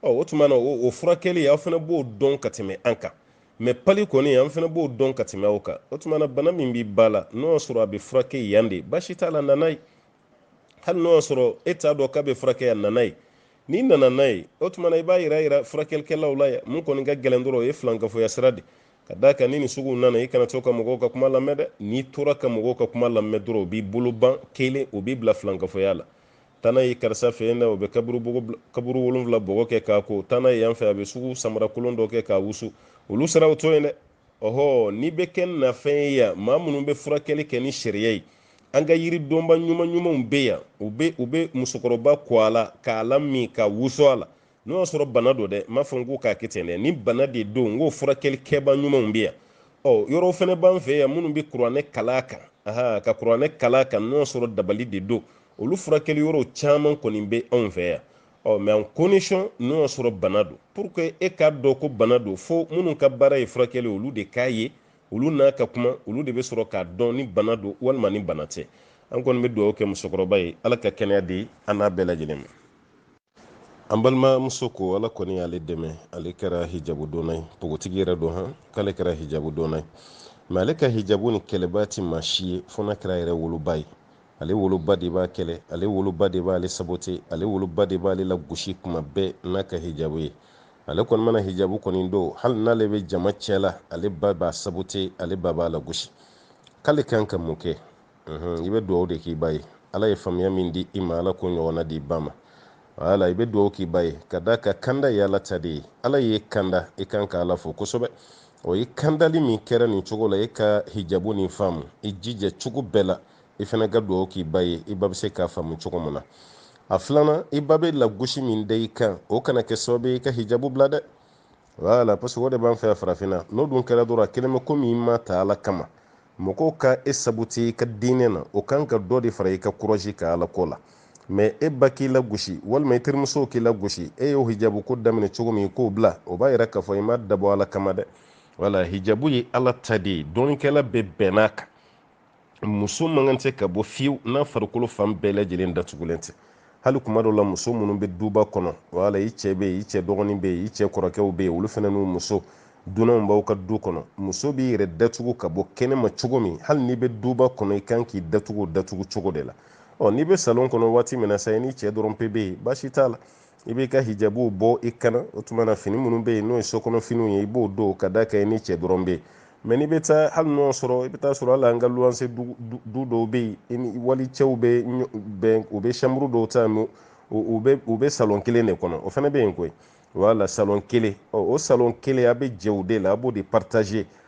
ɔ o tuma na o furakɛli aw fana b'o dɔn ka tɛmɛ an kan mɛ pali kɔni an fana b'o dɔn ka tɛmɛ aw kan o tuma na bana min b'i ba la n'o y'a sɔrɔ a bɛ furakɛ yan de baasi t'a la na n'a ye hali n'o y'a sɔrɔ e t'a dɔn k'a bɛ furakɛ yan na n'a ye n'i nana n'a ye o tuma na i b'a yira yira furakɛlikɛlaw la yan mun kɔni ka gɛlɛn dɔrɔn o ye filankafoya sira de ka d'a kan ni nin suguw nana i kana to ka mɔgɔw ka kuma lamɛn dɛ n'i tora ka mɔgɔw ka kuma lamɛn dɔrɔn o b'i bolo ban kelen o b'i bila filankafoya la taa n'a ye karisa fɛ yen dɛ o bɛ kaburu kaburu wolonwula bɔgɔ kɛ k'a ko taa n'a ye yan fɛ a bɛ sugu samara kolon dɔ kɛ k'a wusu olu sira o to yen dɛ ɔhɔ n'i bɛ kɛ na fɛn ye yan maa minnu bɛ furakɛli kɛ ni sariya ye an ka yiri dɔnba ɲuman ɲumanw bɛ yan u bɛ u bɛ musokɔrɔba ko a la k'a lamin k'a wusu a la n'o y'a sɔrɔ bana don dɛ n m'a fɔ n ko k'a kɛ ten dɛ ni bana de don n k'o furakɛli kɛba ɲumanw bɛ yan ɔ yɔrɔw fɛnɛ b'an fɛ yan minnu bɛ kuranɛ kalan a kan aha ka kuranɛ kalan a kan n'o y'a sɔrɔ dabali de don olu furakɛli yɔrɔw caman kɔni bɛ anw fɛ yan ɔ mɛ à condition n'o y'a sɔrɔ bana don pour que e k'a dɔn ko bana don fo minnu ka baara ye furakɛli olu de k'a ye olu n'a ka kuma olu de bɛ sɔrɔ k'a dɔn ni bana don walima ni bana tɛ an kɔni bɛ dugawu kɛ musokɔrɔba ye ala ka kɛnɛya di an n'a bɛɛ lajɛlen ma an balimamuso ko ala kɔni y'ale dɛmɛ ale kɛra hijabu donna ye pogotigi yɛrɛ don han k'ale kɛra hijabu donna ye mɛ ale ka hijabu nin kɛlɛbaa tɛ maa si ye fo n'a kɛra a yɛrɛ woloba ye ale woloba de b'a kɛlɛ ale woloba de b'ale sabote ale woloba de b'ale lagosi kuma bɛɛ n'a ka hijabu ye ale kɔni mana hijabu kɔni don hali n'ale bɛ jama cɛ la ale ba b'a sabote ale ba b'a lagosi k'ale kan ka mun kɛ i bɛ dugawu de k'i ba ye ala ye faamuya min di i ma ala k'o ɲɔgɔnna d'i ba ma wala i bɛ dugawu k'i ba ye ka d'a kan kanda ye ala ta de ye ala y'i kanda i kan ka ala fo kosɛbɛ o ye kandali min kɛra nin cogo la i ka hijabu nin faamu i jija cogo bɛɛ la i fana ka dugawu k'i ba ye i ba bɛ se k'a faamu cogo min na a filanan i ba bɛ lagosi min da i kan o kana kɛ sababu i ka hijabu bila dɛ wala parce que o de b'an fɛ farafinna n'o dun kɛra dɔrɔn a kɛlen bɛ komi i m'a ta ala kama mɔgɔw ka e saboti i ka diinɛ na o kan ka dɔ de fara i ka kurazi kan ala ko la mɛ e ba k'i lagosi walima i terimusow k'i lagosi e ye hijabu ko daminɛ cogo min i k'o bila o b'a yira k'a fɔ i m'a dabɔ ala kama dɛ wala hijabu ye ala ta de ye dɔnnikɛla bɛɛ bɛnn'a kan muso man kan tɛ ka bɔ fiyewu n'a farikolo fan bɛɛ lajɛlen datugulen tɛ hali kuma dɔw la muso minnu bɛ duba kɔnɔ wala i cɛ bɛ yen i cɛ dɔgɔnin bɛ yen i cɛ kɔrɔkɛw bɛ yen olu fana n'u muso dunanw b'aw ka du kɔnɔ muso b'i yɛrɛ datugu ka bɔ kɛnɛma cogo min hali n'i bɛ duba kɔnɔ i kan k'i datugu o datugu cogo de la ɔ n'i bɛ salon kɔnɔ waati min na sa i n'i cɛ dɔrɔn pe bɛ yen baasi t'a la i b'i ka hijabu bɔ i kan na o tuma na fini minnu bɛ yen n'o ye so kɔnɔ finiw ye i b'o don ka d'a kan i n'i cɛ dɔrɔn bɛ yen mɛ n'i bɛ taa hali n'o y'a sɔrɔ i bɛ t'a sɔrɔ hali an ka luwanse du dɔw bɛ yen walicɛw bɛ bɛn u bɛ samburu dɔw ta mɛ u bɛ salon kelen de kɔnɔ o fana bɛ yen koyi wala salon kelen o salon kelen a bɛ jɛ o de la a b'o de paritaze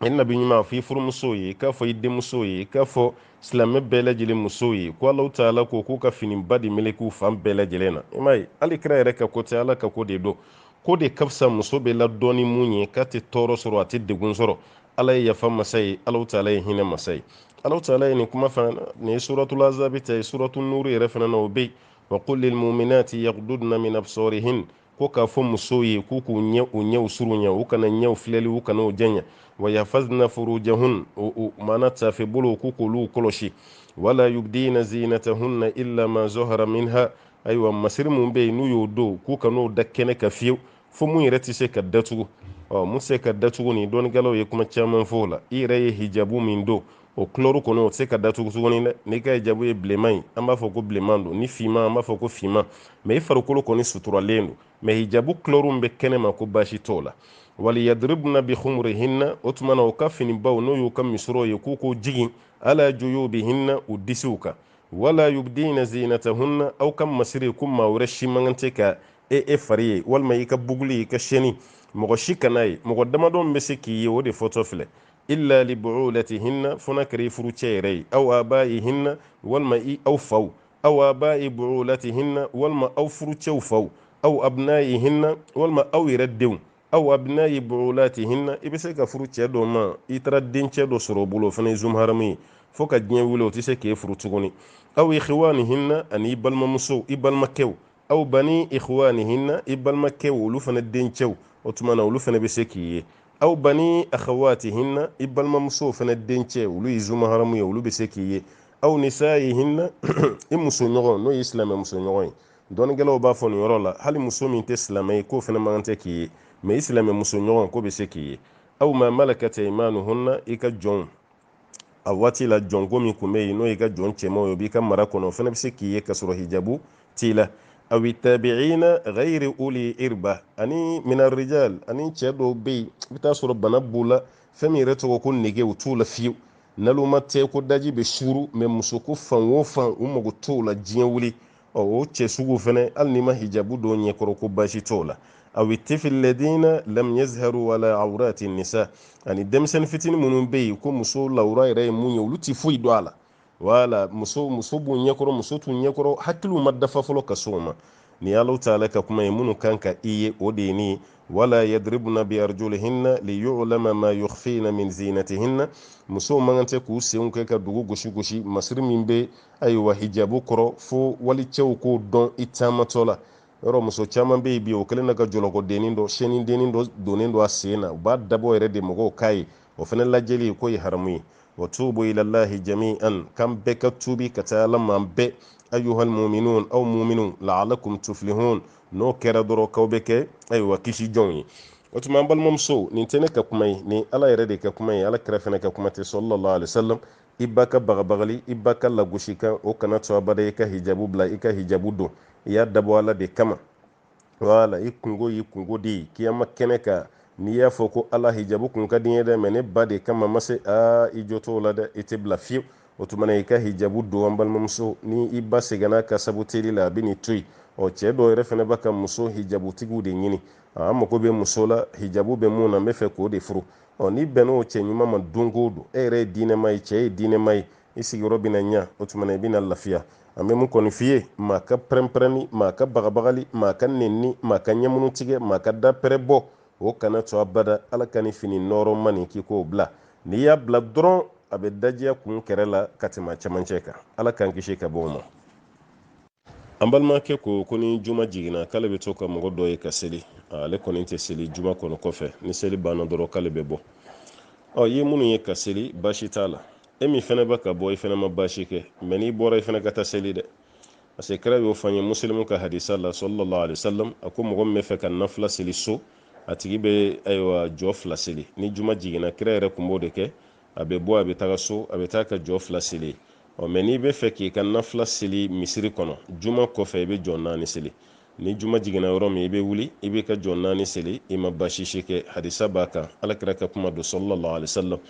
i nabi ɲuman a fɔ i furumusow ye k'a fɔ i denmusow ye k'a fɔ silamɛ bɛɛ lajɛlen musow ye ko alahu taala ko k'u ka finiba de meleke u fan bɛɛ lajɛlen na i m'a ye hali kira yɛrɛ ka ko tɛ ala ka ko de don k'o de ka fisa muso bɛ ladɔn ni mun ye k'a tɛ tɔɔrɔ sɔrɔ a tɛ degun sɔrɔ ala ye yafa masa ye alahu taala ye hinɛ masa ye alahu taala ye nin kuma fana nin ye suratul ahzabi ta ye suratul nuru yɛrɛ fana na o bɛ yen wa qul lil mu'minati yaghdudna min absarihin ko k'a fɔ musow ye k'u k'u ɲɛ u ɲɛw surunya u kana ɲɛw filɛli u kan'o janya wa yahfazna furujahun u mana tafe bolo k'u k'olu kɔlɔsi wala yubdina zinatahunna illa ma zohara minha ayiwa masiri mun bɛ yen n'u y'o don k'u kan'o da kɛnɛ kan fiyewu fo mun yɛrɛ tɛ se ka datugu ɔ mun tɛ se ka datugu nin dɔnnikɛlaw ye kuma caman fɔ o la i yɛrɛ ye hijabu min don o kulɛri kɔni o tɛ se ka datugu tuguni dɛ n'i ka hijabu ye bilenman ye an b'a fɔ ko bilenman don ni finman an b'a fɔ ko finman mɛ i farikolo kɔni suturalen don mɛ hijabu kulɛriw bɛ kɛnɛ ma ko baasi t'o la wal yadribuna bi khumurihinna o tuma na u ka finibaw n'o y'u ka misɔrɔw ye k'u k'o jigin ala juyubihinna u disiw kan wala yubdina zinatahunna aw ka masiri ko maa wɛrɛ si man kan tɛ ka e e fari ye walima i ka buguli i ka siyɛni mɔgɔ si kan'a ye mɔgɔ damadɔ bɛ se k'i ye o de fɔtɔ filɛ illa li buulatihinna fo n'a kɛra i furucɛ yɛrɛ ye aw abaihinna walima i aw faw aw abai buulatihinna walima aw furucɛw faw aw abnaihinna walima aw yɛrɛ denw aw abnai buulatihinna i bɛ se ka furu cɛ dɔ ma i taara dencɛ dɔ sɔrɔ o bolo o fana ye zumaharamu ye fo ka diɲɛ wuli o tɛ se k'e furu tuguni aw ikhwanihinna ani i balimamusow i balimakɛw aw bani ikhwanihinna i balimakɛw olu fana dencɛw o tuma na olu fana bɛ se k'i ye aw bani akhawatihinna i balimamusow fana dencɛ olu ye zumaharamu ye olu bɛ se k'i ye aw nisaihinna i muso ɲɔgɔn n'o ye silamɛ muso ɲɔgɔn ye dɔnnikɛlaw b'a fɔ nin yɔrɔ la hali muso min tɛ silamɛ ye k'o fana man kan tɛ k'i ye mɛ i silamɛ muso ɲɔgɔn k'o bɛ se k'i ye aw ma malakat aimanuhunna i ka jɔnw a waati la jɔnko min kun bɛ yen n'o y'i ka jɔn cɛmanw ye o b'i ka mara kɔnɔ o fana bɛ se k'i ye ka sɔrɔ hijabu t'i la awi tabiina ghayri uli irba ani mina rijal ani cɛ dɔw bɛ yen i bɛ taa sɔrɔ bana b'u la fɛn min yɛrɛ tɔgɔ ko nege o t'u la fiyewu naloma tɛ ko daji bɛ suuru mɛ musoko fan o fan u mago t'o la diɲɛ wuli ɔ o cɛ sugu fɛnɛ hali n'i ma hijabu don ɲɛkɔrɔ ko basi t'o la awi tifili lazina lam yazharu ala awrati nisa ani denmisɛnnin fitinin minnu bɛ yen ko muso lawura yɛrɛ ye mun ye olu ti foyi don a la wala muso muso b'u ɲɛkɔrɔ muso t'u ɲɛkɔrɔ hakiliw ma dafa fɔlɔ ka s'o ma nin alahu taala ka kuma ye minnu kan ka i ye o de ye nin wala yadribuna bi arjulihinna li yu'lama ma yukhfina min zinatihinna musow man kan tɛ k'u senw kɛ ka dugu gosi gosi masiri min bɛ ayiwa hijabu kɔrɔ fo walicɛw k'o dɔn i taamatɔ la yɔrɔ muso caman bɛ yen bi o kɛlen na ka jɔlɔkɔdennin dɔ sɛnindennin dɔ donnen don a sen na u b'a dabɔ yɛrɛ de mɔgɔw k'a ye o fana lajɛli k'o ye haramu ye wa tuubu ilalahi jami'an k'an bɛɛ ka tuubi ka taa ala ma an bɛɛ ayuhal muminun aw muminun laalakum tuflihun n'o kɛra dɔrɔn k'aw bɛ kɛ ayiwa kisi jɔnw ye o tuma an balimamuso nin tɛ ne ka kuma ye nin ala yɛrɛ de ka kuma ye ala kira fana ka kuma tɛ sallallahu alaihi wasallam i ba ka bagabagali i ba ka lagosikan o kana to abada i ka hijabu bila i ka hijabu don i y'a dabɔ ala de kama wala i kunko y'i kunko de ye kiyama kɛnɛ kan n'i y'a fɔ ko ala hijabu kun ka di n ye dɛ mɛ ne ba de kama n ma se aa i jo t'o la dɛ i tɛ bila fiyewu o tuma na i ka hijabu don an balimamuso ni i ba sɛgɛnna a ka saboteli la a bɛ n'i to yen ɔ cɛ dɔw yɛrɛ fana bɛ ka muso hijabutigiw de ɲini an mago bɛ muso la hijabu bɛ min na n b'a fɛ k'o de furu ɔ n'i bɛnna o cɛ ɲuman ma don o don e yɛrɛ ye diinɛma ye cɛ ye diinɛma ye i sigiyɔrɔ bɛna ɲa o tuma na i bɛna lafiya an bɛ min kɔni f'i ye maa ka pɛrɛnpɛrɛnni maa ka bagabagali maa ka nenni maa ka ɲɛmunu tigɛ maa ka da pɛrɛ bɔ o kana to abada ala ka nin fini nɔɔrɔma nin k'i k'o bila n'i y'a bila dɔrɔn a bɛ dajiya kun kɛrɛ la ka tɛmɛ cɛmancɛ kan ala k'an kisi ka bɔ o ma an balimakɛ ko ko ni juma jiginna k'ale bɛ to ka mɔgɔ dɔ ye ka seli ale kɔni tɛ seli juma kɔnɔ kɔfɛ ni seli banna dɔrɔn k'ale bɛ bɔ ɔ ye minnu ye ka seli baasi t'a la e min fana bɛ ka bɔ i fana ma baasi kɛ mɛ n'i bɔra i fana ka taa seli dɛ parce que kira y'o fɔ an ye musilimu ka hadisa la sallallahu alaihi wasallam a ko mɔgɔ min b'a fɛ ka nafila seli so a tigi bɛ ayiwa jɔ fila seli ni juma jiginna kira yɛrɛ tun b'o de kɛ a bɛ bɔ a bɛ taga so a bɛ taa ka jɔ fila seli ɔ mɛ n'i b'a fɛ k'i ka nafila seli misiri kɔnɔ juma kɔfɛ i bɛ jɔ naani seli ni juma jiginna yɔrɔ min i bɛ wuli i bɛ jɔ naani seli i ma baasi si kɛ hadisa b'a kan alakira ka kuma don sallallahu alaihi wasallam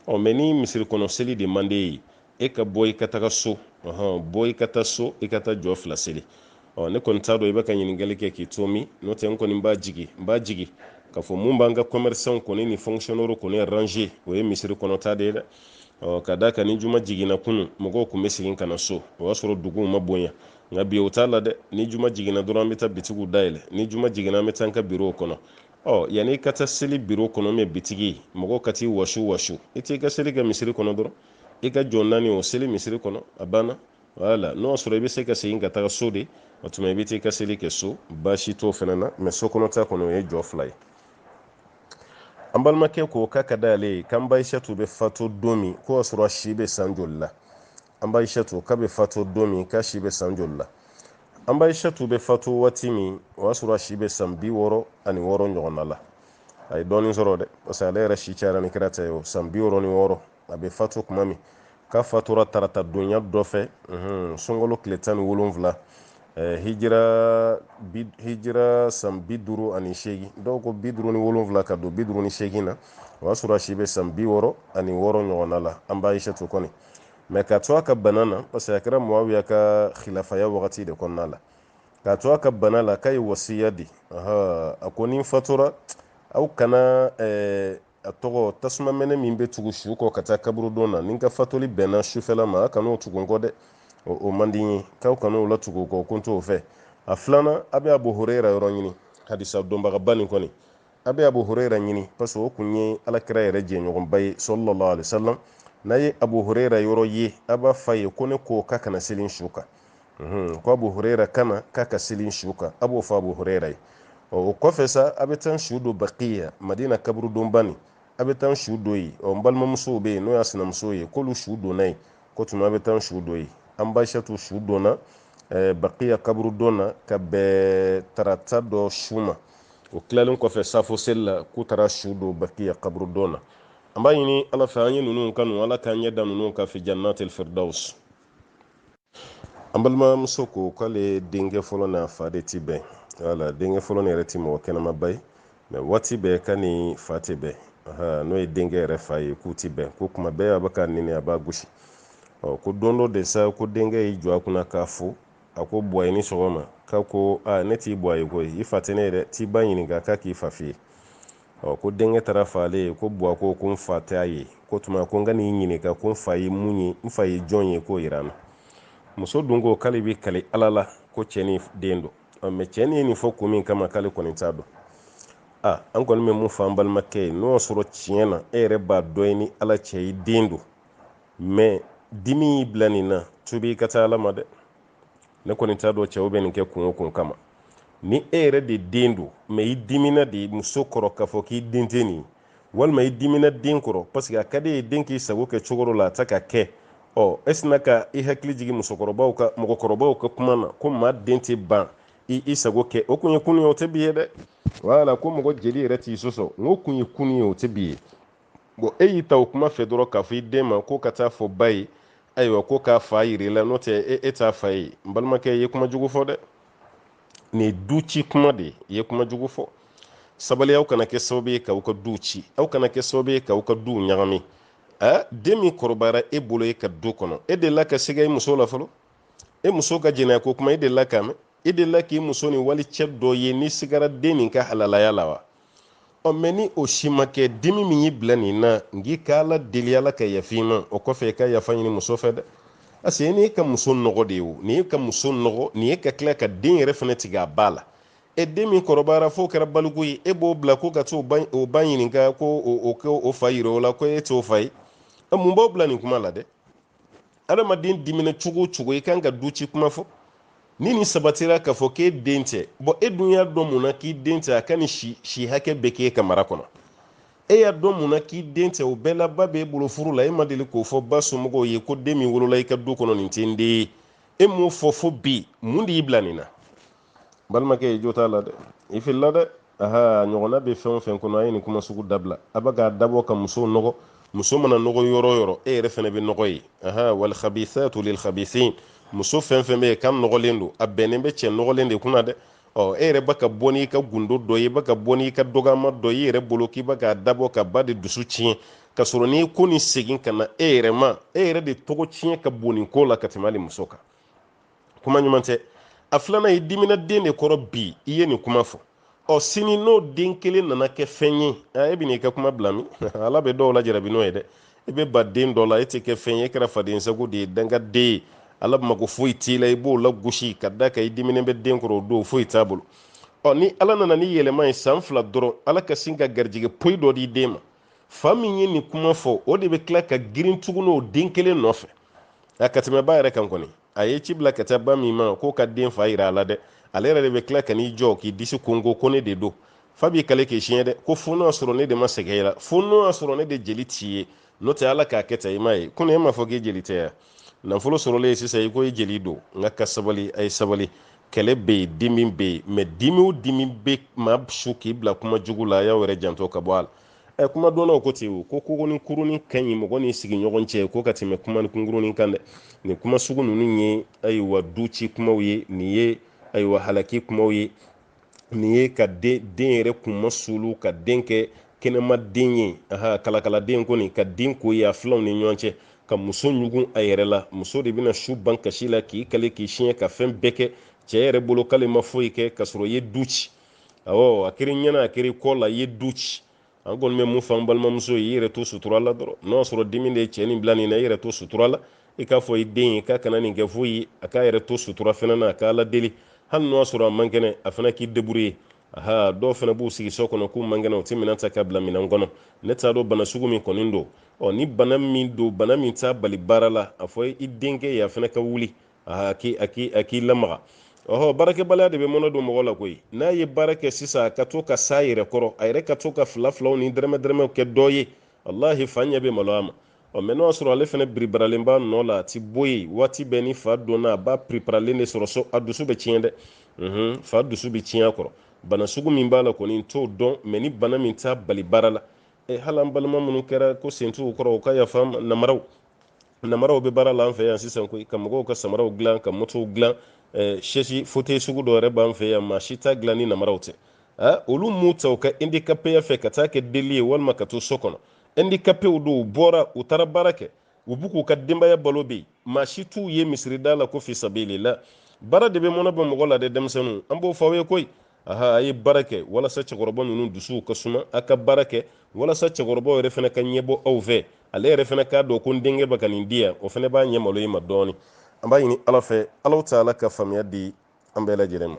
ɔ mɛ ni misiri kɔnɔ seli de man d'e ye i ka bɔ i ka taga so bɔ i ka taa so i ka taa jɔ fila seli ɔ ne kɔni t'a dɔn i bɛ ka ɲininkali kɛ k'i to min n'o tɛ n kɔni n b'a jigi n b'a jigi k'a fɔ mun b'an ka kɔmɛrisanw kɔni ni fɔnkisiyɔnɛriw kɔni ranze o ye misiri kɔnɔta de ye dɛ ɔ ka d'a kan ni juma jiginna kunun mɔgɔw tun bɛ segin ka na so o y'a sɔrɔ duguw ma bonya nka bi o t'a la dɛ ni juma jiginna dɔrɔn an bɛ taa bitigiw dayɛlɛ ni juma jiginna an bɛ taa an ka birow kɔnɔ ɔ yanni i ka taa seli biro kɔnɔ mɛ bitigi mɔgɔ ka t'i wasu wasu i t'i ka seli kɛ misiri kɔnɔ dɔrɔn i ka jɔ naani o seli misiri kɔnɔ a banna wala n'o y'a sɔrɔ i bɛ se ka segin ka taga so de o tuma i bɛ t'i ka seli kɛ so baasi t'o fana na mɛ so kɔnɔ ta kɔni o ye jɔ fila ye an balimakɛ ko k'a ka d'ale ye k'an ba ayisatu bɛ fatu don min k'o y'a sɔrɔ si bɛ san joli la an ba ayisatu k'a bɛ fatu don min k'a si bɛ san joli la an ba ayisatu bɛ fatu waati min o y'a sɔrɔ si bɛ san bi wɔɔrɔ ani wɔɔrɔ ɲɔgɔnna la a ye dɔɔnin sɔrɔ dɛ parce que ale yɛrɛ si cayara ni kira ta ye o san bi wɔɔrɔ ni wɔɔrɔ a bɛ fatu tuma min k'a fatura tarata donya dɔ fɛ sunkalo tile tan ni wolonwula hijira hijira san bi duuru ani seegin dɔw ko bi duuru ni wolonwula ka don bi duuru ni seegin na o y'a sɔrɔ a si bɛ san bi wɔɔrɔ ani wɔɔrɔ ɲɔgɔnna la an ba ayisatu kɔni mɛ ka to a ka bana na parce que a kɛra muawiya ka khilafaya wagati de kɔnɔna la ka to a ka bana la k'a ye wasiya di a ko ni n fatura aw kana a tɔgɔ tasuma mɛnɛ min bɛ tugu su kɔ ka taa kaburudon na ni n ka fatuli bɛnna sufɛla ma aw kan'o tugu n kɔ dɛ o man di n ye k'aw kan'o la tugu n kɔ ko n t'o fɛ a filanan a bɛ abu hurera yɔrɔ ɲini hadisa dɔnbagaba nin kɔni a bɛ abu hurera ɲini parce que o kun ye alakira yɛrɛ jɛɲɔgɔnba ye sallallahu alaihi wasallam n'a ye abu hurera yɔrɔ ye a b'a f'a ye ko ne ko k'a ka na seli n su kan mhm, ko abu huraira ka na k'a ka seli su kan a b'o fɔ abu huraira ye o kɔfɛ sa a bɛ taa su don bakiya madina kaburudonba nin a bɛ taa su don yen ɔ n balimamusow bɛ yen n'o y'a sinamusow ye k'olu su donna yen k'o tuma a bɛ taa su don yen an ba ayisatu su donna eh, bakiya kaburudon na ka bɛn tarata dɔ su ma o tilalen kɔfɛ safo seli la k'u taara su don bakiya kaburudon na an b'a ɲini ala fɛ an ye ninnu kanu ala k'an ɲɛ da ninnu kan fi jannatil firdaus an balimamuso ko k'ale denkɛ fɔlɔ n'a fa de ti bɛn wala denkɛ fɔlɔ nin yɛrɛ ti mɔgɔ kɛnɛmaba ye mɛ waati bɛɛ k'a n'a fa tɛ bɛn n'o ye denkɛ yɛrɛ fa ye k'u ti bɛn ko tuma bɛɛ a bɛ k'a neni a b'a gosi ɔ ko don dɔ de sa ko denkɛ y'i jɔ a kunna k'a fo a ko buwa i ni sɔgɔma k'a ko ne t'i buwa ye koyi i fa tɛ ne ye dɛ t'i ba ɲininka k'a k'i fa f'i ye ɔ ko denkɛ taara fɔ ale ye ko buwa ko ko n fa tɛ a ye o tuma ko n ka n'i ɲininka ko n fa ye mun ye n fa ye jɔn ye k'o yira n na muso dun ko k'ale bɛ kali ala la ko cɛ nin den don ɔ mɛ cɛ nin ye nin fɔ kun min kama k'ale kɔni t'a dɔn a an kɔni bɛ mun fɔ an balimakɛ ye n'o y'a sɔrɔ tiɲɛ na e yɛrɛ b'a dɔn e ni ala cɛ e den don mɛ dimi y'i bila nin na tubi i ka taa ala ma dɛ ne kɔni t'a dɔn cɛw bɛ nin kɛ kun o kun kama ni e yɛrɛ de den don mɛ i dimina de muso kɔrɔ k'a fɔ k'i den tɛ nin walima i dimina den kɔrɔ parce que a ka d'i ye den k'i sago kɛ cogo dɔ la a tɛ ka kɛ ɔ e sinna ka i hakili jigin musokɔrɔbaw ka mɔgɔkɔrɔbaw ka kuma na ko maa den tɛ ban i sago kɛ o kun ye kunun ye o tɛ bi ye dɛ wala ko mɔgɔ jeli yɛrɛ t'i sɔsɔ n k'o kun ye kunun ye o tɛ bi ye bɔn e y'i ta o kuma fɛ dɔrɔn k'a fɔ i den ma ko ka taa fɔ ba ye ayiwa ko k'a fa yir'a la n'o tɛ e, e t'a fa ye n balimakɛ i ye kuma jugu fɔ dɛ nin ye du ci kuma de ye i ye kuma jugu fɔ sabali aw kana kɛ sababu ye k'aw ka duw ci aw kana kɛ sababu ye k'aw ka duw ɲagami a den min kɔrɔbayara e bolo e ka du kɔnɔ e delila ka siga i muso la fɔlɔ e muso ka jɛnɛya ko kuma e delila k'a mɛn e delila k'i muso ni wali cɛ dɔ ye n'i sigara den min ka halalaya la wa ɔ mɛ ni o si ma kɛ dimi min y'i bila nin na n k'i ka ala deli ala ka yafa i ma o kɔfɛ i ka yafa ɲini muso fɛ dɛ parce que nin ye ka muso nɔgɔ de ye o nin ye ka muso nɔgɔ nin ye ka tila ka den yɛrɛ fana tigɛ a ba la e den min kɔrɔbayara f'o kɛra baliku ye e b'o bila ko ka t'o ba ɲininka ko o ka o fa yira o la ko e t'o fa ye mun b'aw bila nin kuma la dɛ adamaden dimina cogo o cogo i kan ka du ci kuma fɔ ni nin sabatira k'a fɔ k'e den tɛ bɔn e dun y'a dɔn mun na k'i den tɛ a ka nin si hakɛ bɛɛ k'e ka mara kɔnɔ e y'a dɔn mun na k'i den tɛ o bɛɛ la ba b'e bolo furu la e ma deli k'o fɔ ba somɔgɔw ye ko den min wolola i ka du kɔnɔ nin tɛ n den ye e m'o fɔ fo bi mun de y'i bila nin na balimakɛ i jo t'a la dɛ i filila dɛ aha ɲɔgɔnna bɛ fɛn o fɛn kɔnɔ a ye nin kuma sugu dabila a bɛ k'a dabɔ ka musow nɔgɔ muso mana nɔgɔ yɔrɔ o yɔrɔ e yɛrɛ fɛnɛ bɛ nɔgɔ ye aha wal khabithatu lil khabithin muso fɛn fɛn bɛ yen k'a nɔgɔlen don a bɛnnen bɛ cɛ nɔgɔlen de kunna dɛ ɔ e yɛrɛ bɛ ka bɔ n'i ka gundo dɔ ye i bɛ ka bɔ n'i ka dɔgɔyama dɔ ye i yɛrɛ bolo k'i bɛ k'a dabɔ ka ba de dusu tiɲɛ ka sɔrɔ ni ko nin segin ka na e yɛrɛ ma e yɛrɛ de tɔgɔ tiɲɛ ka bon nin ko la ka tɛmɛ hali muso kan kuma ɲuman tɛ a filanan i dimina den de kɔrɔ bi i ye nin kuma fɔ ɔ sini n'o den kelen nana kɛ fɛn ye e bɛn'i ka kuma bila min ala bɛ dɔw lajarabi n'o ye dɛ i bɛ ban den dɔ la e tɛ kɛ fɛn ye e kɛra faden sago de ye dangaden ye ala mako foyi t'i la i b'o lagosi ka d'a kan i diminen bɛ den kɔrɔ o don foyi t'a bolo ɔ ni ala nana ni yɛlɛma ye san fila dɔrɔn ala ka sin ka garijɛgɛ poyi dɔ di den ma fa min ye nin kuma fɔ o de bɛ tila ka girin tuguni o den kelen nɔfɛ a ka tɛmɛ ba yɛrɛ kan kɔni a ye ci bila ka taa ba min ma k'o ka den fa yira a la dɛ ale yɛrɛ de bɛ tila ka n'i jɔ k'i disi konkon ko ne de don fa b'i kali k'i siɲɛ dɛ ko fo n'o y'a sɔrɔ ne de ma sɛgɛn i la fo n'o y'a sɔrɔ ne de jeli t'i ye n'o tɛ ala k'a kɛ ten i m'a ye kunun e m'a fɔ k'i jeli tɛ yan nafolo sɔrɔlen sisan i ko i jeli don n k'a ka sabali a ye sabali kɛlɛ bɛ yen dimi bɛ yen mɛ dimi o dimi bɛ maa su k'i bila kuma jugu la a y'aw yɛrɛ janto ka bɔ a la ɛ kuma dɔnnaw ko ten u ko kokonin kurunin ka ɲi mɔgɔ ni sigiɲɔgɔn cɛ ko ka tɛmɛ kumanin kunkurunin kan dɛ nin kuma sugu ninnu ye ayiwa du ci kumaw ye nin ye ayiwa halaki kumaw ye nin ye ka den den yɛrɛ kunmasuuli ka den kɛ kɛnɛma den ye aha kalakaladen kɔni ka den ko ye a filanw ni ɲɔgɔn cɛ ka muso ɲugun a yɛrɛ la muso de bɛna su ban kasi la k'i kale k'i siɲɛ ka fɛn bɛɛ kɛ cɛ yɛrɛ bolo k'ale ma foyi kɛ ka sɔrɔ i ye du ci awɔ a kɛr'i ɲɛna a kɛr'i kɔ la i ye du ci an kɔni bɛ mun fɔ an balimamuso ye i yɛrɛ to sutura la dɔrɔn n'o y'a sɔrɔ dimi de ye cɛ nin bila nin na i yɛrɛ to sutura la i k'a fɔ i den ye k'a kana nin kɛ foyi ye a k'a yɛrɛ to sutura fana na a k'a ladeli hali n'o y'a sɔrɔ a man kɛnɛ a fana k'i deburuye aha dɔw fana b'u sigi so kɔnɔ k'u man kɛnɛ u tɛ minɛn ta ka bila minɛn kɔnɔ ne t'a dɔn bana sugu min kɔni don ɔ ni bana min don bana min t'a bali baara la a fɔ i denkɛ ye a fana ka wuli a k'i a k'i a k'i lamaga ɔhɔ baarakɛbaliya de bɛ mɔnɛ don mɔgɔ la koyi n'a ye baara kɛ sisan ka to ka s'a yɛrɛ kɔrɔ a yɛrɛ ka to ka fila filaw ni dɛrɛmɛ dɛrɛmɛw kɛ dɔ ye walahi fa ɲɛ bɛ maloya a ma ɔ mɛ n'o y'a sɔrɔ ale fana biribaralen b'a nɔ la a ti bɔ yen waati bɛɛ ni fa donna a b'a piriparalen de sɔrɔ so a dusu bɛ tiɲɛ dɛ mhm, fa dusu bɛ tiɲɛ a kɔrɔ bana sugu min b'a la kɔni n t'o dɔn mɛ ni bana min t'a bali baara la e hali an balima minnu kɛra ko sen t'u kɔrɔ u ka yafa namaraw namaraw bɛ baara la an fɛ yan sisan koyi ka mɔgɔw ka samaraw dilan ka motow dilan sɛsi fote sugu dɔ yɛrɛ b'an fɛ yan maa si t'a dilan ni namaraw tɛ olu m'u ta u ka indikapeya fɛ ka taa kɛ deli ye walima ka to so kɔnɔ indikapew don u bɔra u taara baara kɛ u b'u k'u ka denbaya balo bɛ yen maa si t'u ye misirida la ko fisabilila baara de bɛ mɔnɛ bɔ mɔgɔ la dɛ denmisɛnninw an b'o fɔ aw ye koyi aha a ye baara kɛ walasa cɛkɔrɔba ninnu dusuw ka suma a ka baara kɛ walasa cɛkɔrɔbaw yɛrɛ fana ka ɲɛbɔ aw fɛ ale yɛrɛ fana k'a dɔn ko n denkɛ bɛ ka nin di yan o fana b'a ɲɛ malo i ma dɔɔni an b'a ɲini ala fɛ alahu taala ka faamuya di an bɛɛ lajɛlen ma